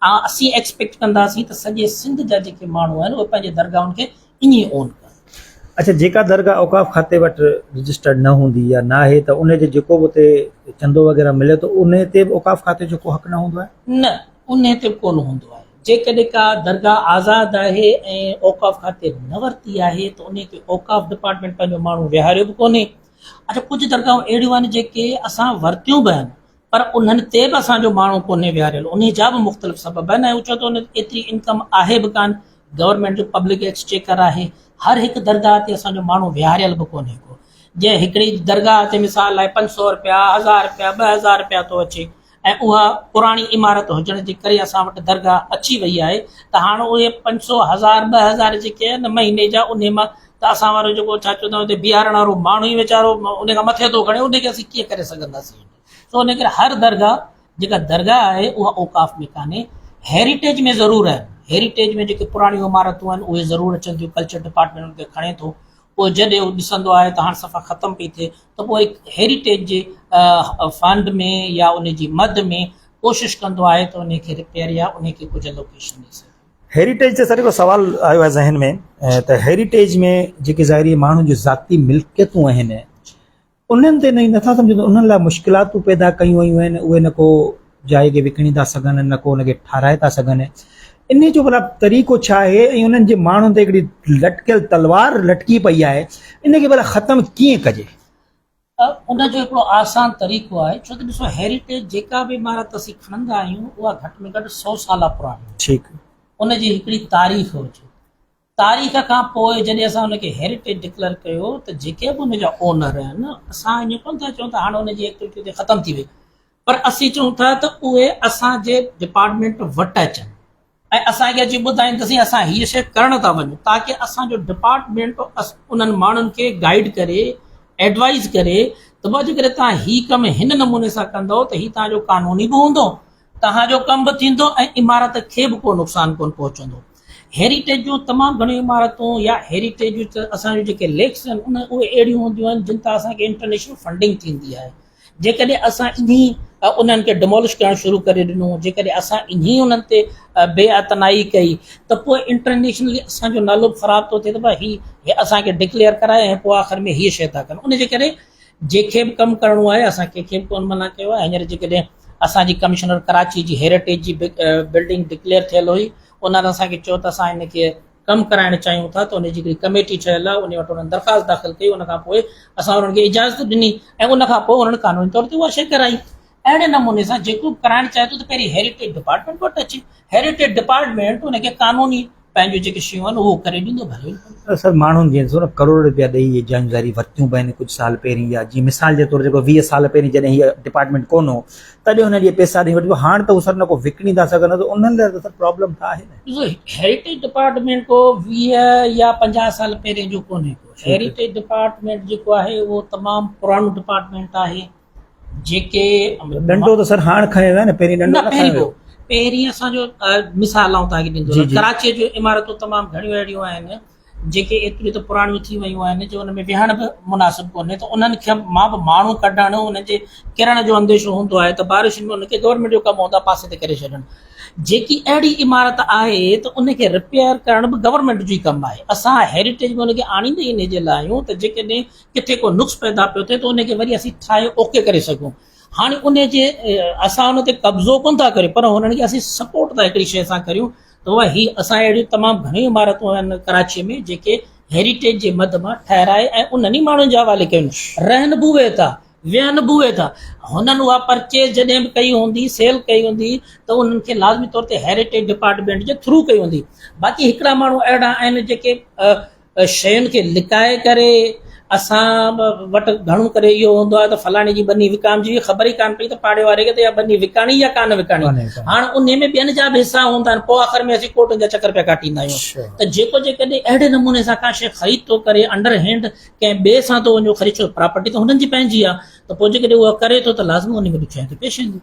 B: اسين ايڪسپيڪٽ ڪنداسين ته سڄي سنڌ جا جيڪي ماڻهو آهن اهي پنهنجي درگاهن کي ائين ئي اون ڪن. اڇا جيڪا درگاهه
A: اوقاف کاتي وٽ رجسٽرڊ نه هوندي يا ناهي ته ان جو جيڪو به اتي چندو وغيره ملي ٿو ان تي به اوقاف کاتي جو ڪو حق نه هوندو آهي؟ نه ان
B: تي به ڪونه هوندو آهي جيڪڏهن ڪا درگاهه آزاد آهي ۽ اوقاف کاتي نه ورتي آهي ته ان کي اوقاف ڊپارٽمينٽ پنهنجو ماڻهو ويهاريو به ڪونهي اچا ڪجهه درگاهون اهڙيون آهن جيڪي اسان ورتيون به آهن پر انهن تي به اسان جو ماڻهو ڪونهي ويهاريل انهي جا به مختلف سبب آهن ۽ چون ته ايتري انڪم آهي به ڪانه گورنمينٽ جو پبلڪ ايڪسچيڪر آهي هر هڪ درگاهه تي اسان جو ماڻهو ويهاريل به ڪونهي ڪو جنهن هڪڙي درگاهه تي مثال لاء پنج سئو رپيا هزار رپيا ٻه هزار رپيا ٿو اچي ۽ اها پراڻي عمارت هجڻ جي ڪري اسان وٽ درگاهه اچي وئي آهي ته هاڻ اهي پنج سئو هزار ٻه هزار جيڪي آهن نه مهيني جا انهي مان ته اسان وارو جيڪو ڇا چئبو اٿي بيهارڻ وارو ماڻهو ئي ويچارو انهي کان مٿي ٿو کڻي انهي کي اسين ڪيئن ڪري سگهنداسين سو انهي ڪري هر درگاهه جيڪا درگاهه آهي اها اوقاف ۾ ڪانهي هيريٽيج ۾ ضرور آهن هيريٽيج ۾ جيڪي پراڻيون عمارتون آهن اهي ضرور اچن ٿيون ڪلچر ڊپارٽمينٽ انهن کي کڻي ٿو پوء جڏهن هو ڏسندو آهي ته هاڻ صفا ختم پئي ٿئي ته پوء هيريٽيج جي فنڊ ۾ يا ان جي مد ۾ ڪوشش ڪندو آهي ته انهي کي ريپيئر يا انهي کي ڪجهه الوڪيشن ڏئي سگهي. هيريٽيج تي سر هڪڙو
A: سوال آيو آهي ذهن ۾ ته هيريٽيج ۾ جيڪي ظاهري ماڻهن جون ذاتي ملڪيتون آهن انهن تي نئين نٿا سمجهن ته انهن لاء مشڪلاتون پيدا ڪيون ويون آهن اهي نه ڪو جاء کي وڪڻي ٿا سگهن نه ڪو ان کي ٺاهرائي ٿا سگهن انهي جو بلا طريقو ڇا آهي ۽ انهن جي ماڻهن تي هڪڙي لٽڪيل تلوار لٽڪي پئي آهي ان کي بلا ختم ڪيئن ڪجي ان
B: جو هڪڙو آسان طريقو آهي ڇو ته ڏسو هيريٽيج جيڪا به عمارت اسين کڻندا آهيون اها گهٽ ۾ گهٽ سو سالا پراڻي ٺيڪ ان
A: جي هڪڙي
B: تاريخ هجي تاريخ کان پوء جڏهن اسان ان کي هيرٽيج ڊڪليئر ڪيو ته جيڪي به ان جا اونر آهن اسان ائين ڪونه ٿا چئون ته هاڻي ان جي ايڪٽيوٽي اتي ختم ٿي وئي پر اسين چئون ٿا ته اهي اسان جي ڊپارٽمينٽ وٽ اچن ۽ اسان کي اچي ٻڌائين ته سائين اسان هيء شيء ڪرڻ ٿا وڃون تاڪي اسان جو ڊپارٽمينٽ انهن ماڻهن کي گائيڊ ڪري ايڊوائز ڪري ته بابا جيڪڏهن توهان هي ڪم هن نموني سان ڪندؤ ته هي توهان جو قانوني به هوندو توهان جو ڪم به ٿيندو ۽ عمارت کي به ڪو نقصان ڪونه پهچندو. هيريٽيج جون تمام گهڻيون عمارتون يا هيريٽيج جون اسان جون جيڪي ليڪس آهن ان اهي اهڙيون هونديون آهن جن تان اسان کي انٽرنيشنل فنڊنگ ٿيندي آهي. جيڪڏهن اسان انهي انهن کي ڊمولش ڪرڻ شروع ڪري ڏنو، جيڪڏهن اسان انهي انهن تي بي اعتنائي ڪئي ته پوء انٽرنيشنلي اسان جو نالو به خراب ٿو ٿئي ته ڀاء هي اسان کي ڊڪليئر ڪرائي ۽ پوء آخر ۾ هيء شيء ٿا ڪن. ان جي ڪري جنهن کي به ڪم ڪرڻو آهي اسان ڪنهن کي به ڪونه منع ڪيو آهي. هينئر جيڪڏهن اسان جي ڪمشنر ڪراچي جي هيرٽيج جي بلڊنگ ڊڪليئر ٿيل هئي انهن اسان کي چيو ته اسان هن کي ڪم ڪرائڻ چاهيون ٿا ته ان جي هڪڙي ڪميٽي ٺهيل آهي ان وٽ انهن درخواست داخل ڪئي ان کان پوء اسان انهن کي اجازت ڏني ۽ ان کان پوء انهن قانوني طور تي اها شيء ڪرائي اهڙي نموني سان جيڪو به ڪرائڻ چاهي ٿو ته پهرين هيرٽيج ڊپارٽمينٽ وٽ اچي هيرٽيج ڊپارٽمينٽ ان کي قانوني پنهنجون جيڪي شيون آهن اهو ڪري ڏيندو ڀلو ئي ڀلو. اڪثر ماڻهن جيئن ڏسو نه
A: ڪروڙ روپيا ڏئي اهي جايون ظاهري ورتيون به آهن ڪجهه سال پهرين يا جيئن مثال جي طور جيڪو ويهه سال پهرين جڏهن هي ڊپارٽمينٽ ڪونه هو تڏهن انهن اهي پيسا ڏئي وٺبا هاڻ ته هو سر نه ڪو وڪڻي نٿا سگهن نه ته انهن لاء ته سر پرابلم ته آهي نه. ڏسو هيريٽيج
B: ڊپارٽمينٽ ڪو ويهه يا پنجاهه سال پهرين جو ڪونهي ڪو هيريٽيج ڊپارٽمينٽ جيڪو آهي اهو تمام پراڻو ڊپارٽمينٽ آهي جيڪي ڏنڊو ته
A: سر هاڻ کنيو ويو آهي نه پهرين ڏنڊو نه کنيو ويو پهرين اسان جو
B: مثال آئون توهان کي ڏيندو رهان ڪراچيء جون عمارتون تمام گهڻيون اهڙيون آهن جيڪي ايتريون ته پراڻيون ٿي ويون آهن جو ان ۾ ويهڻ به مناسب ڪونهي ته انهن کي مان به ماڻهو ڪڍڻ انهن جي ڪرڻ جو انديشو هوندو آهي ته بارشن ۾ ان کي گورنمينٽ جو ڪم هوندا پاسي تي ڪري ڇڏڻ جيڪي اهڙي عمارت آهي ته ان کي رپيئر ڪرڻ به گورنمينٽ جو ئي ڪم آهي اسان هيريٽيج ۾ ان کي آڻيندا ئي ان جي لاء آهيون ته جيڪڏهن ڪٿي ڪو نقص پيدا پيو ٿئي ته ان کي وري اسين ٺاهي اوڪي ڪري سگهون هاڻي ان جي اسان ان تي قبضو ڪونه ٿا ڪريون پر هنن کي اسين سپورٽ ٿا هڪڙي شيء سان ڪريون ته اها هي اسان اهڙيون تمام گهڻيون عمارتون آهن ڪراچي ۾ جيڪي هيريٽيج جي مد مان ٺهرائي ۽ انهن ئي ماڻهن جي حوالي ڪيون رهن به اهي ٿا ويهن به اهي ٿا هنن اها پرچيز جڏهن به ڪئي هوندي سيل ڪئي هوندي ته انهن کي لازمي طور تي هيريٽيج ڊپارٽمنٽ جي ٿرو ڪئي هوندي باقي هڪڙا ماڻهو اهڙا آهن جيڪي شين کي لڪائي ڪري اسان وٽ گهڻو ڪري اهو هوندو آهي ته فلاڻي جي ٻني وڪامجي وئي خبر ئي ڪانه پئي ته پاڙي واري کي ته اها ٻني وڪاڻي يا ڪانه وڪاڻي هاڻ انهي ۾ ٻين جا به حصا هوندا آهن پوء آخر ۾ اسين ڪورٽن جا چڪر پيا ڪاٽيندا آهيون ته جيڪو جيڪڏهن اهڙي نموني سان ڪا شيء خريد ٿو ڪري انڊر هينڊ ڪنهن ٻئي سان ٿو وڃي خريد ڇو پراپرٽي ته هنن جي پنهنجي آهي ته پوء جيڪڏهن اها ڪري ٿو ته لازمي انهي ۾ ڏکيائي ته پيش اينديون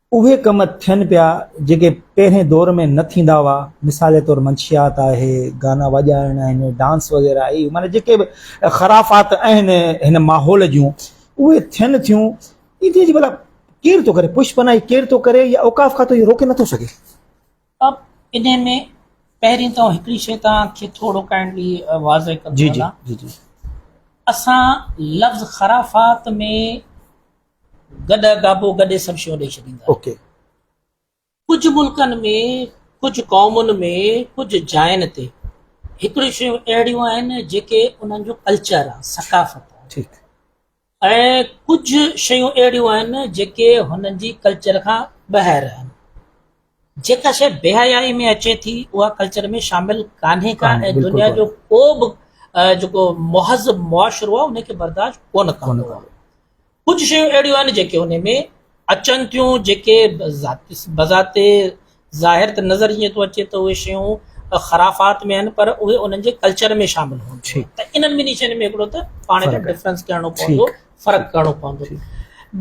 A: اهي ڪم ٿين پيا جيڪي پهرين دور ۾ نه ٿيندا هئا مثال طور منشيات آهي گانا وڄائڻ آهن ڊانس وغيره آهي معنيٰ جيڪي به خرافات آهن هن ماحول جون اهي ٿين ٿيون ان جي ڀلا ڪير ٿو ڪري پش پناهي ڪير ٿو ڪري يا اوقاف کاتو اهو روڪي نٿو سگهي اب
B: ان ۾ پهرين ته هڪڙي شي توهان کي ٿورو ڪائنڊلي واضح ڪندو جي جي جي جي اسان لفظ
A: خرافات
B: ۾ گڏهه گابو گڏي سڀ شيون ڏئي ڇڏيندا آهن ڪجهه ملڪن ۾ ڪجهه قومن ۾ ڪجهه جاين تي هڪڙيون شيون اهڙيون آهن جيڪي انهن جو ڪلچر آهن ثقافت آهن ۽ ڪجهه شيون اهڙيون آهن جيڪي هنن جي ڪلچر کان ٻاهر آهن جيڪا شيء بيحيائي ۾ اچي ٿي اها ڪلچر ۾ شامل ڪانهي ڪا ۽ دنيا جو ڪو
A: به
B: جيڪو مهذب معاشرو آهي ان کي برداشت ڪونه ڪندو آهي ڪجهه شيون اهڙيون آهن جيڪي ان ۾ اچن ٿيون جيڪي بذات ظاهر ته نظر ائين ٿو اچي ته اهي شيون خرافات ۾ آهن پر اهي انهن جي ڪلچر ۾ شامل هئن ته انهن ٻنهي شين ۾ هڪڙو ته پاڻ کي ڊفرنس ڪرڻو پوندو فرق ڪرڻو پوندو.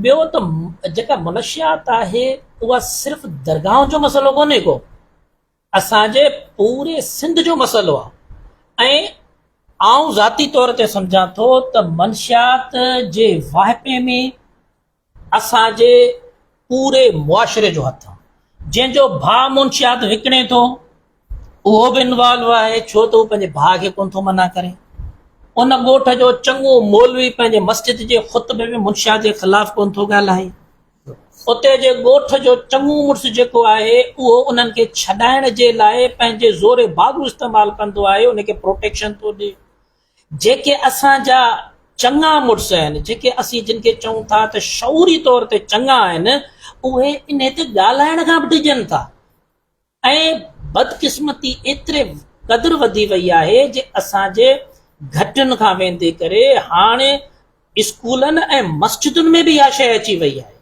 B: ٻيو ته جيڪا منشيات آهي اها صرف درگاهن جو مسئلو ڪونهي ڪو اسان جي پوري سنڌ جو مسئلو آهي ۽ آئون ذاتي طور تي سمجهان ٿو ته منشيات جي واهپي ۾ اسان جي پوري معاشري جو هٿ آ جنهن جو ڀاء منشيات وڪڻي ٿو اهو به انوالو آهي ڇو ته هو پنهنجي ڀاء کي ڪونه ٿو منع ڪري ان ڳوٺ جو چڱو مولوي پنهنجي مسجد جي خطبي ۾ منشيات جي خلاف ڪونه ٿو ڳالهائي اتي جي ڳوٺ جو چڱو مڙس جيڪو آهي اهو انهن کي ڇڏائڻ جي لاء پنهنجي زور باگو استعمال ڪندو آهي ان کي پروٽيڪشن ٿو ڏي جيڪي اسان جا چڱا مڙس آهن، جيڪي اسين جن کي چئون ٿا ته شعوري طور تي چڱا آهن، اهي انهي تي ڳالهائڻ کان به ڊڄن ٿا ۽ بدقسمتي ايتري قدر وڌي وئي آهي جي اسان جي گهٽين کان ويندي ڪري هاڻي اسڪولن ۽ مسجدن ۾ به اها شيء اچي وئي آهي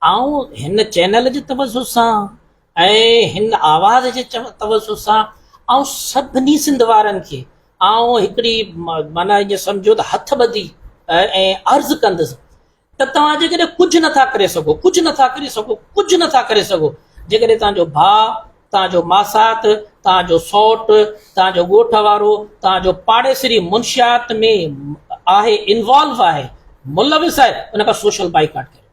B: آئون هن چينل جي توجه سان ۽ هن آواز جي توجه سان آئون سڀني سنڌ وارن کي آئون هڪڙي معنيٰ ايئن سمجهو ته هٿ ٻڌي ۽ عرض ڪندس ته توهان جيڪڏهن ڪجهه نٿا ڪري سگهو ڪجهه نٿا ڪري سگهو ڪجهه نٿا ڪري سگهو جيڪڏهن توهان جو ڀاء توهان جو ماسات، توهان جو سئوٽ، توهان جو ڳوٺ وارو، توهان جو پاڙيسري منشيات ۾ آهي انوالو آهي، ملوث آهي ان کان سوشل بائيڪاٽ ڪريو.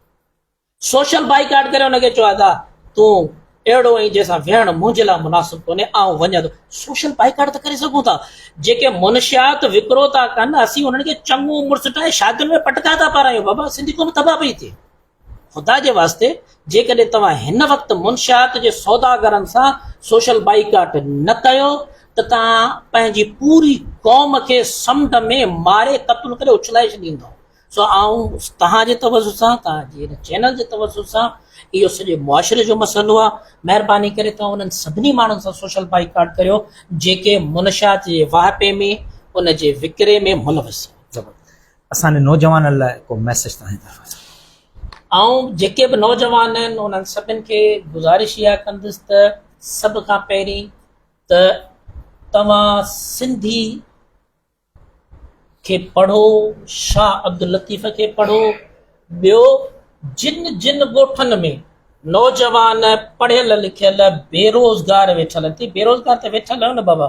B: سوشل بائيڪاٽ ڪري ان کي چئو ادا تون اهڙو آهين جنهن سان ويهڻ منهنجي لاء مناسب ڪونهي آئون وڃان ٿو. سوشل بائيڪاٽ ته ڪري سگهون ٿا. جيڪي منشيات وڪرو ٿا ڪن اسين انهن کي چڱو عمر سٽائي شادين ۾ پٽڪا ٿا پارايون. بابا سنڌي قوم تباهه پئي ٿئي. خدا جي واسطي جيڪڏهن توهان هن وقت منشيات جي سوداگرن سان سوشل بائيڪاٽ نه ڪيو ته توهان پنهنجي پوري قوم کي سمنڊ ۾ ماري قتل ڪري اڇلائي ڇڏيندو سو آئون توهان جي توجه سان توهان جي هن چينل جي توجه سان اهو سڄي معاشري جو مسئلو آهي مهرباني ڪري توهان انهن سڀني ماڻهن سان سوشل بائيڪاٽ ڪريو جيڪي منشيات جي واهپي ۾ ان جي وڪري ۾ ملوث آهن اسان جي
A: نوجوانن لاء ڪو ميسيج توهان جي طرفان سان. آئون
B: جيڪي به نوجوان آهن انهن سڀن کي گذارش اها ڪندس ته سڀ کان پهرين ته توهان سنڌي کي پڙهو شاهه عبداللطيف کي پڙهو ٻيو جن جن ڳوٺن ۾ نوجوان پڙهيل لکيل بيروزگار ويٺل ٿي بيروزگار ته ويٺل آهيو نه بابا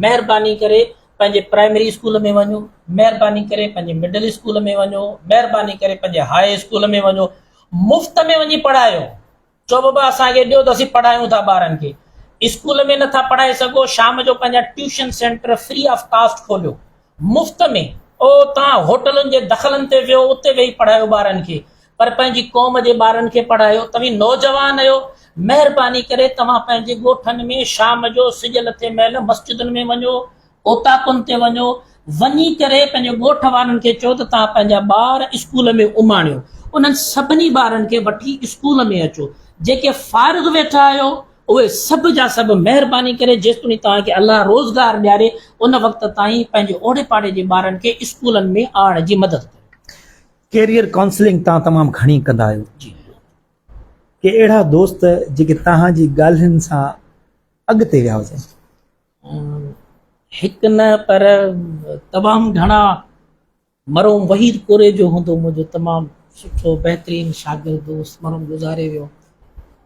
B: مهرباني ڪري پنهنجي پرائمري اسڪول ۾ وڃو مهرباني ڪري پنهنجي مڊل اسڪول ۾ وڃو مهرباني ڪري پنهنجي هاء اسڪول ۾ وڃو مفت ۾ وڃي پڙهايو چو بابا اسانکي ڏيو ته اسين پڙهايون ٿا ٻارن کي اسڪول ۾ نٿا پڙهائي سگهو شام جو پنهنجا tuition centre free of cost کوليو مفت ۾ او تان هوٽلن جي دخلن تي ويهو اتي ويهي پڙهايو ٻارن کي پر پنهنجي قوم جي ٻارن کي پڙهايو توهين نوجوان اهيو مهرباني ڪري توهان پنهنجي ڳوٺن ۾ شام جو سج لٿي مهل مسجدن ۾ وڃو اوطاقن تي وڃو وڃي ڪري پنهنجي ڳوٺ وارن کي چئو ته توهان پنهنجا ٻار اسڪول ۾ اماڻيو انهن سڀني ٻارن کي وٺي اسڪول ۾ اچو جيڪي فارغ ويٺا آهيو اهي سڀ جا سڀ مهرباني ڪري جيستوڻي توهان کي الله روزگار ڏياري ان وقت تائين پنهنجي اوڙي پاڙي جي ٻارن کي اسڪولن ۾ آڻڻ جي مدد ڪريو. ڪيريئر ڪائونسلنگ
A: توهان تمام گهڻي ڪندا آهيو. جي هلو. ڪي اهڙا دوست جيڪي توهان جي ڳالهين سان اڳتي ويا هجن. هڪ
B: نه پر تمام گهڻا. مرحوم وحيد ڪوريجو هوندو منهنجو تمام سٺو بهترين شاگرد دوست مرحوم گذاري ويو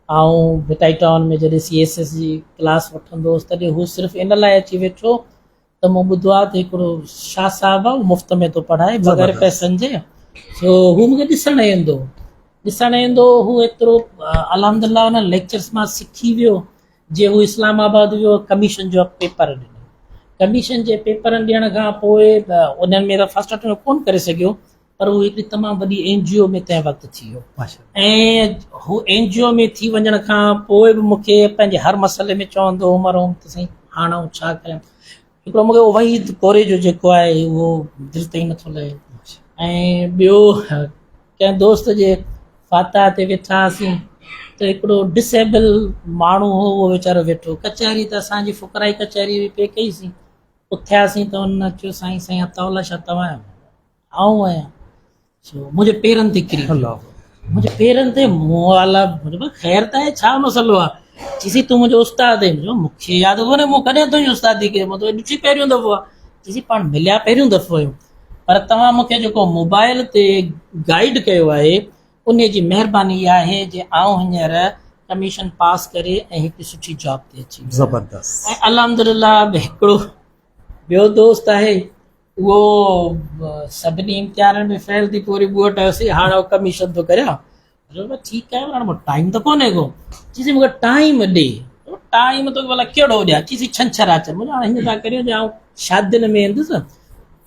B: آئون ڀٽائي ٽائون ۾ جڏهن سي ايس ايس جي ڪلاس وٺندو هوس تڏهن هو صرف ان لاء اچي ويٺو ته مون ٻڌو آهي ته هڪڙو شاهه صاحب آهي مفت ۾ ٿو پڙهائي بغير پئسن جي سو هو مون کي ڏسڻ ايندو ڏسڻ ايندو هو ايترو الحمد لله ان ليڪچرس مان سکي ويو جي هو اسلام آباد ويو ڪميشن جو پيپر ڏنو ڪميشن جي پيپرن ڏيڻ کان پوء انهن ۾ ته فرسٽ اٽيمپٽ ڪونه ڪري سگهيو پر هو هڪ تمام وڏي اين جي او ۾ تنهن وقت ٿي ويو ۽
A: هو
B: اين جي او ۾ ٿي وڃڻ کان پوء به مون کي پنهنجي هر مسئلي ۾ چوندو عمر هوم ته سائين هاڻ آئون ڇا ڪيان هڪڙو مون کي وحيد ڪوري جو جيڪو آهي اهو دل تائين نٿو لهي ۽ ٻيو ڪنهن دوست جي فاتح تي ويٺا هئاسين ته هڪڙو ڊس ايبل ماڻهو هو اهو ويچارو ويٺو ڪچهري ته اسان جي فقرائي ڪچهري پئي ڪئيسين اٿياسين ته ان چيو سائين سائين عطاء الله شاهه توهان آهيو آئون آهيان سو منهنجي پيرن تي ڪري الله منهنجي
A: پيرن
B: تي موالا مطلب خير ته آهي ڇا مسئلو آهي چيسي تون منهنجو استاد آهي جو مونکي ياد ڪونهي مون ڪڏهن تنهنجي استادي ڪئي مون تو ڏٺي پهريون دفعو آهي چيسي پاڻ مليا پهريون دفعو آهيون پر توهان مونکي جيڪو موبائل تي گائيڊ ڪيو آهي ان جي مهرباني اها آهي جي آئون هينئر ڪميشن پاس ڪري ۽ هڪ سٺي جاب تي اچي زبردست ۽ الحمدلله به هڪڙو ٻيو دوست آهي اهو سڀني امتحانن ۾ فيل ٿي پوري ٻوٽ هيوسي هاڻ او ڪميشن ٿو ڪريان جو ٺيڪ آهي هاڻ مون ٽائيم ته ڪونهي ڪو چيسي مونکي ٽائيم ڏي ٽائيم تو بلا ڪهڙو ڏيا چيسي ڇنڇر اچ مون هاڻ هيئن ٿا ڪريو جو شادين ۾ اندس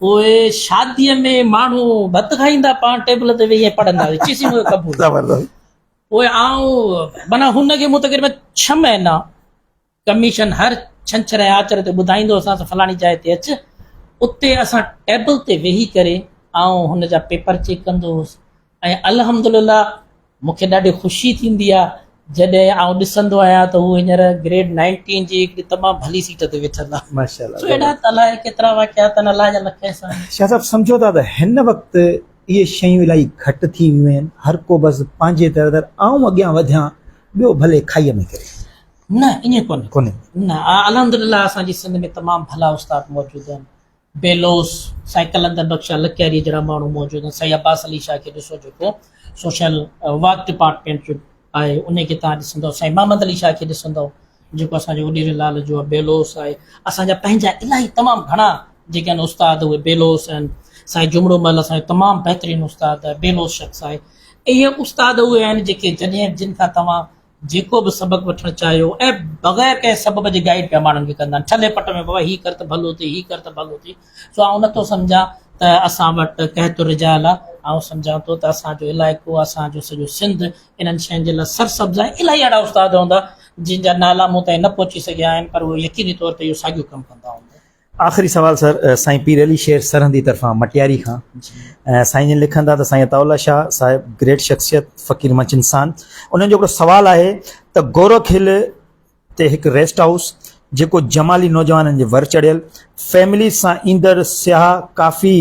B: پوء شادي ۾ ماڻهو ڀت کائيندا پاڻ ٽيبل تي ويهي پڙهندا چيسي مون قبول زبردست
A: پوء آئون
B: مانا هن کي مون تقريبا 6 مهينا ڪميشن هر ڇنڇر ۽ آچر تي ٻڌائيندو اسان سان فلاڻي جاء تي اچ، اتي اسان ٽيبل تي ويهي ڪري آئون هن جا پيپر چيڪ ڪندو هوس ۽ الحمد لله مون کي ڏاڍي خوشي ٿيندي آ جڏهن آئون ڏسندو آهيان ته هو هينئر گريڊ نائنٽين جي هڪڙي تمام ڀلي سيٽ تي ويٺل آ. سو اهڙا ته الائي
A: ڪيترا
B: واقعا تن الله جا لک احسان. شاهه صاحب سمجهو ٿا ته
A: هن وقت اهي شيون الائي گهٽ ٿي ويون آهن، هر ڪو بس پنهنجي در در آئون اڳيان وڌيان ٻيو ڀلي کائي ۾ ڪري. نه ائين
B: ڪونهي. نه
A: الحمدلله
B: اسان جي سنڌ ۾ تمام ڀلا استاد موجود آهن. بيلوس، سائين قلندر بخش شاهه لڪياريء جهڙا ماڻهو موجود آهن. سائين عباس علي شاهه کي ڏسو جيڪو سوشل ورڪ ڊپارٽمينٽ جو آهي انهي کي توهان ڏسندؤ. سائين محمد علي شاهه کي ڏسندؤ جيڪو اسان جو وڏيري لال جو آهي. بيلوس آهي. اسان جا پنهنجا الاهي تمام گهڻا جيڪي آهن استاد اهي بيلوس آهن. سائين جهمڙو مل اسان جو تمام بهترين استاد آهي. بيلوس شخص آهي. اهي استاد اهي آهن جيڪي جڏهن جن کان توهان جيڪو به سبق وٺڻ چاهيو ۽ بغير ڪنهن سبب جي گائيڊ پيا ماڻهن کي ڪندا آهن ٺلهي پٽ ۾ بابا هي ڪر ته ڀلو ٿئي هي ڪر ته ڀلو ٿئي سو آئون نٿو سمجهان ته اسان وٽ قحط الرجال آهي آئون سمجهان ٿو ته اسان جو علائقو اسان جو سڄو سنڌ انهن شين جي لاء سرسبز آهي الاهي اهڙا استاد هوندا جن جا نالا مون تائين نه پهچي سگهيا آهن پر اهو يقيني طور تي اهو ساڳيو ڪم ڪندا هوندا آخري سوال سر
A: سائين پير علي شير سرهندي طرفان مٽياري کان سائين جن لکن ٿا ته سائين عطاء الله شاهه صاحب گريٽ شخصيت فقير منچ انسان انهن جو هڪڙو سوال آهي ته گورک هل تي هڪ ريسٽ هائوس جيڪو جمالي نوجوانن جي ور چڙهيل فيمليز سان ايندڙ سياح ڪافي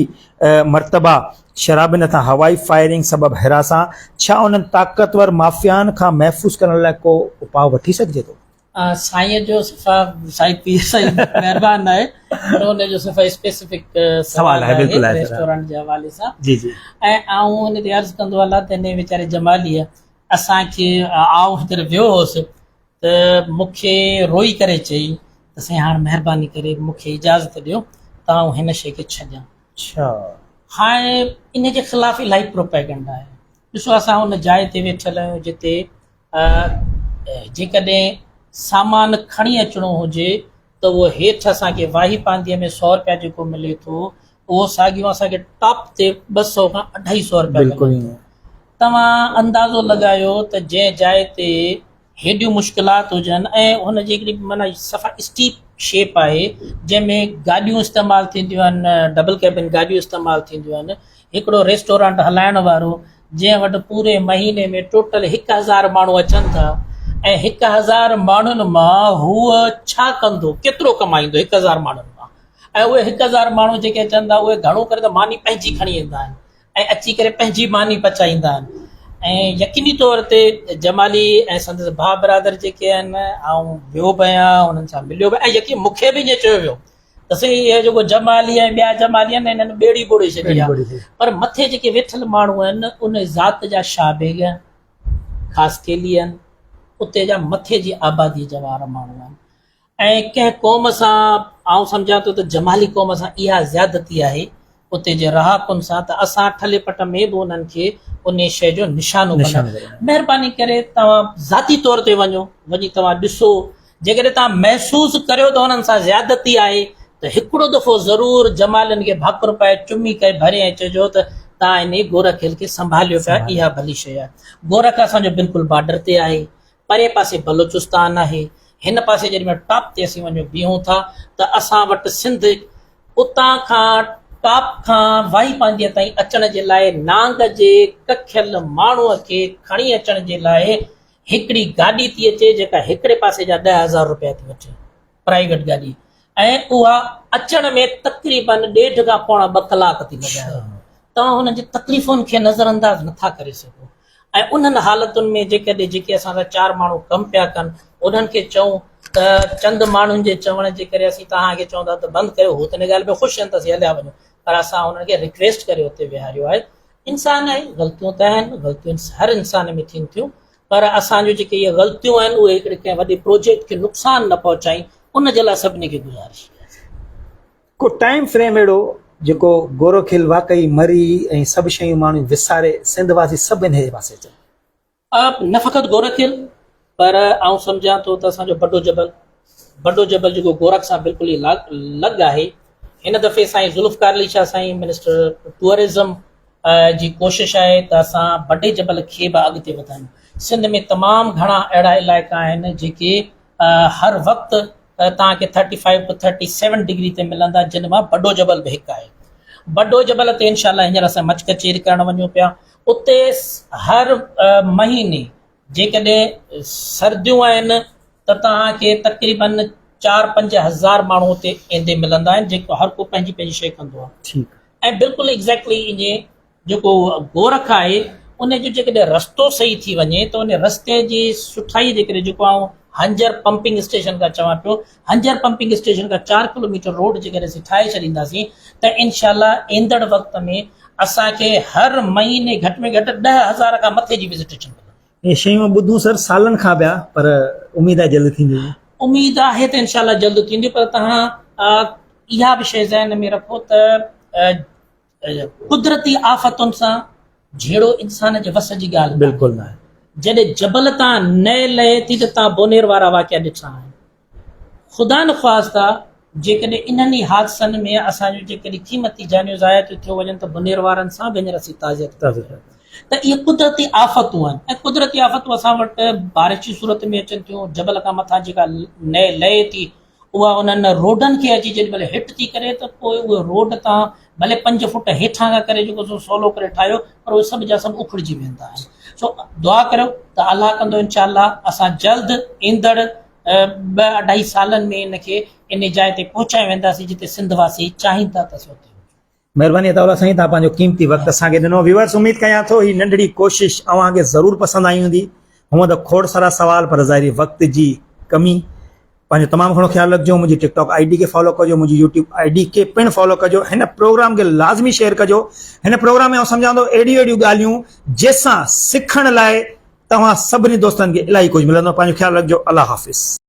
A: مرتبا شرابين هٿان هوائي فائرنگ سبب هراسان ڇا انهن طاقتور مافيائن کان محفوظ ڪرڻ لاء ڪو اپاء وٺي سگهجي ٿو؟ سائين جو
B: صفا سائين پير سائين مهربان آهي پر ان جو صفا اسپيسيفڪ سوال آهي بلڪل
A: آهي ريسٽورنٽ جي حوالي سان
B: جي
A: جي ۽ آئون ان
B: تي عرض ڪندو الله ته اني ويچاري جمالي اسان کي آئون هتر ويو هوس ته مونکي روئي ڪري چئي ته سائين هاڻ مهرباني ڪري مونکي اجازت ڏيو ته آئون هن شي کي ڇڏيان اڇا هاڻ ان جي خلاف الاهي پروپيگنڊا آهي ڏسو اسان ان جاء تي ويٺل آهيون جتي ۽ جيڪڏهن سامان کڻي اچڻو هجي ته اهو هيٺ اسانکي واهي پانڌيء ۾ سؤ رپيا جيڪو ملي ٿو اهو ساڳيو اسانکي ٽاپ تي ٻه سؤ کان اڍائي سؤ رپيا ملي ٿو
A: توهان
B: اندازو لڳايو ته جنهن جاء تي هيڏيون مشڪلات هجن ۽ هن جي هڪڙي معنيٰ صفا اسٽيپ شيپ آهي جنهن ۾ گاڏيون استعمال ٿينديون آهن ڊبل ڪيبن گاڏيون استعمال ٿينديون آهن هڪڙو ريسٽورانٽ هلائڻ وارو جنهن وٽ پوري مهيني ۾ ٽوٽل هڪ هزار ماڻهو اچن ٿا ۽ هڪ هزار ماڻهن مان هو ڇا ڪندو ڪيترو ڪمائيندو هڪ هزار ماڻهن مان ۽ اهي هڪ هزار ماڻهو جيڪي اچن ٿا اهي گهڻو ڪري ته ماني پنهنجي کڻي ايندا آهن ۽ اچي ڪري پنهنجي ماني پچائيندا آهن ۽ يقيني طور تي جمالي ۽ سندس ڀاء برادر جيڪي آهن آئون ويو به آهيان انهن سان مليو به ۽ يقين مون کي به ائين چيو ويو ته سي اهي جيڪو جمالي ۽ ٻيا جمالي آهن انهن ٻيڙي ٻوڙي ڇڏي آهي پر مٿي جيڪي ويٺل ماڻهو آهن ان ذات جا شاهه بيگ آهن خاص ڪيلي آهن اتي جا مٿي جي آبادي جا وارا ماڻهو آهن ۽ ڪنهن قوم سان آئون سمجهان ٿو ته جمالي قوم سان اها زيادتي آهي اتي جي رهاڪن سان ته اسان ٺلهي پٽ ۾ به انهن کي انهي شيء جو نشانو بنايو. مهرباني ڪري توهان ذاتي طور تي وڃو، وڃي توهان ڏسو، جيڪڏهن توهان محسوس ڪريو ته انهن سان زيادتي آهي ته هڪڙو دفعو ضرور جمالين کي ڀاڪر پائي چمي ڪري ڀري ۽ چئجو ته توهان انهي گورکيل کي سنڀاليو پيا، اها ڀلي شيء آهي. گورک اسان جو بلڪل بارڊر تي آهي، پرئين پاسي بلوچستان آهي، هن پاسي جڏهن مان ٽاپ تي اسين وڃون بيهون ٿا ته اسان وٽ سنڌ اتان کان ٽاپ کان واهي پانڌيء تائين اچڻ جي لاء نانگ جي ڪکيل ماڻهوء کي کڻي اچڻ جي لاء هڪڙي گاڏي ٿي اچي جيڪا هڪڙي پاسي جا ڏهه هزار روپيا ٿي وٺي. پرائيويٽ گاڏي ۽ اها اچڻ ۾ تقريباً ڏيڍ کان پوڻا ٻه ڪلاڪ ٿي لڳايو توهان هنن جي تڪليفن کي نظر انداز نٿا ڪري سگهو ۽ انهن حالتن ۾ جيڪڏهن جيڪي اسان سان چار ماڻهو ڪم پيا ڪن انهن کي چئون ته چند ماڻهن جي چوڻ جي ڪري اسين توهان کي چون ٿا ته بند ڪيو هو ته ان ڳالهه ۾ خوش آهن ته اسين هليا وڃون پر اسان انهن کي رڪويسٽ ڪري اتي ويهاريو آهي انسان آهي غلطيون ته آهن غلطيون هر انسان ۾ ٿين ٿيون پر اسان جون جيڪي اهي غلطيون آهن اهي هڪڙي ڪنهن وڏي پروجيڪٽ کي نقصان نه پهچائين ان جي لاء سڀني کي گذارش ڪياسين. ڪو
A: ٽائيم فريم اهڙو جيڪو گورو کيل واقعي مري ۽ سڀ شيون ماڻهو وساري سنڌ واسي سڀ انهي جي پاسي اچن. نه فقط گورکيل
B: پر آئون سمجهان ٿو ته اسان جو بڊو جبل بڊو جبل جيڪو گورک سان بلڪل ئي لڳ آهي هن دفعي سائين ذوالفقار علي شاهه سائين منسٽر ٽوئرزم جي ڪوشش آهي ته اسان بڊي جبل کي به اڳتي وڌايون سنڌ ۾ تمام گهڻا اهڙا علائقا آهن جيڪي هر وقت تان کي 35 ٽو 37 ڊگري تي ملندا جن مان بڊو جبل به هڪ آهي بڊو جبل تي انشاءالله هينئر اسان مچ ڪچيري ڪرڻ وڃون پيا اتي هر مهيني جيڪڏهن سرديون آهن ته توهان کي تقريباً چار پنج هزار ماڻهو اتي ايندي ملندا آهن جيڪو هر ڪو پنهنجي پنهنجي شيء ڪندو آهي ٺيڪ ۽ بلڪل ايگزيڪٽلي ان جي جيڪو گورک آهي ان جو جيڪڏهن رستو صحيح ٿي وڃي ته ان رستي جي سٺائي جي ڪري جيڪو آئون هنجر پمپنگ اسٽيشن کان چوان پيو هنجهر پمپنگ اسٽيشن کان چار ڪلوميٽر روڊ جيڪڏهن اسين ٺاهي ڇڏينداسين ته انشاء الله ايندڙ وقت ۾ اسان کي هر مهيني گهٽ ۾ گهٽ ڏهه هزار کان مٿي جي وزٽيشن ملندي. اهي شيون ٻڌون سر
A: سالن کان پيا پر اميد آهي جلد ٿينديون. اميد آهي ته
B: انشاء الله جلد ٿينديون پر توهان اها به شيء ذهن ۾ رکو ته قدرتي آفتن سان جهيڙو انسان جي وس جي ڳالهه بلڪل ناهي.
A: جڏهن جبل
B: تان نئه لهي ٿي ته تان بونير وارا واقعا ڏٺا آهن. خدا نخواسته جيڪڏهن انهن ئي حادثن ۾ اسان جون جيڪڏهن قيمتي جانيون ضايع ٿيون ٿيو وڃن ته بونير وارن سان به هينئر اسين تعزيت ڪريون ٿا ته اهي قدرتي آفتون آهن ۽ قدرتي آفتون اسان وٽ بارش جي صورت ۾ اچن ٿيون جبل کان مٿان جيڪا نئه لهي ٿي اها انهن روڊن کي اچي جيڏي مهل هٽ ٿي ڪري ته پوء اهي روڊ تان ڀلي پنج فوٽ هيٺان کان ڪري جيڪو سو سولو ڪري ٺاهيو پر اهي سڀ جا سڀ اکڙجي ويندا آهن سو دعا ڪريو ته الله ڪندو انشاء الله اسان جلد ايندڙ ٻه اڍائي سالن ۾ ان کي ان جاء تي پهچائي وينداسين جتي سنڌ واسي چاهين ٿا ته اسين اتي هجون مھرباني عطاء الله
A: سائين توھان پنھنجو قيمتي وقت اسان کي ڏنو ويورس اميد ڪيان ٿو ھي ننڍڙي ڪوشش اوھان کي ضرور پسند آئي ھوندي ھونئن ته کوڙ سارا سوال پر ظاھري وقت جي ڪمي پنھنجو تمام گھڻو خيال رکجو منھنجي ٽڪ ٽاڪ آئي ڊي کي فالو ڪجو منھنجي يوٽيوب آئي ڊي کي پڻ فالو ڪجو ھن پروگرام کي لازمي شيئر ڪجو ھن پروگرام ۾ آئون سمجھان ٿو اھڙيون اھڙيون ڳالھيون جنھن سان سکڻ لاء توھان سڀني دوستن کي الاھي ڪجھ ملندو پنھنجو خيال رکجو الله حافظ.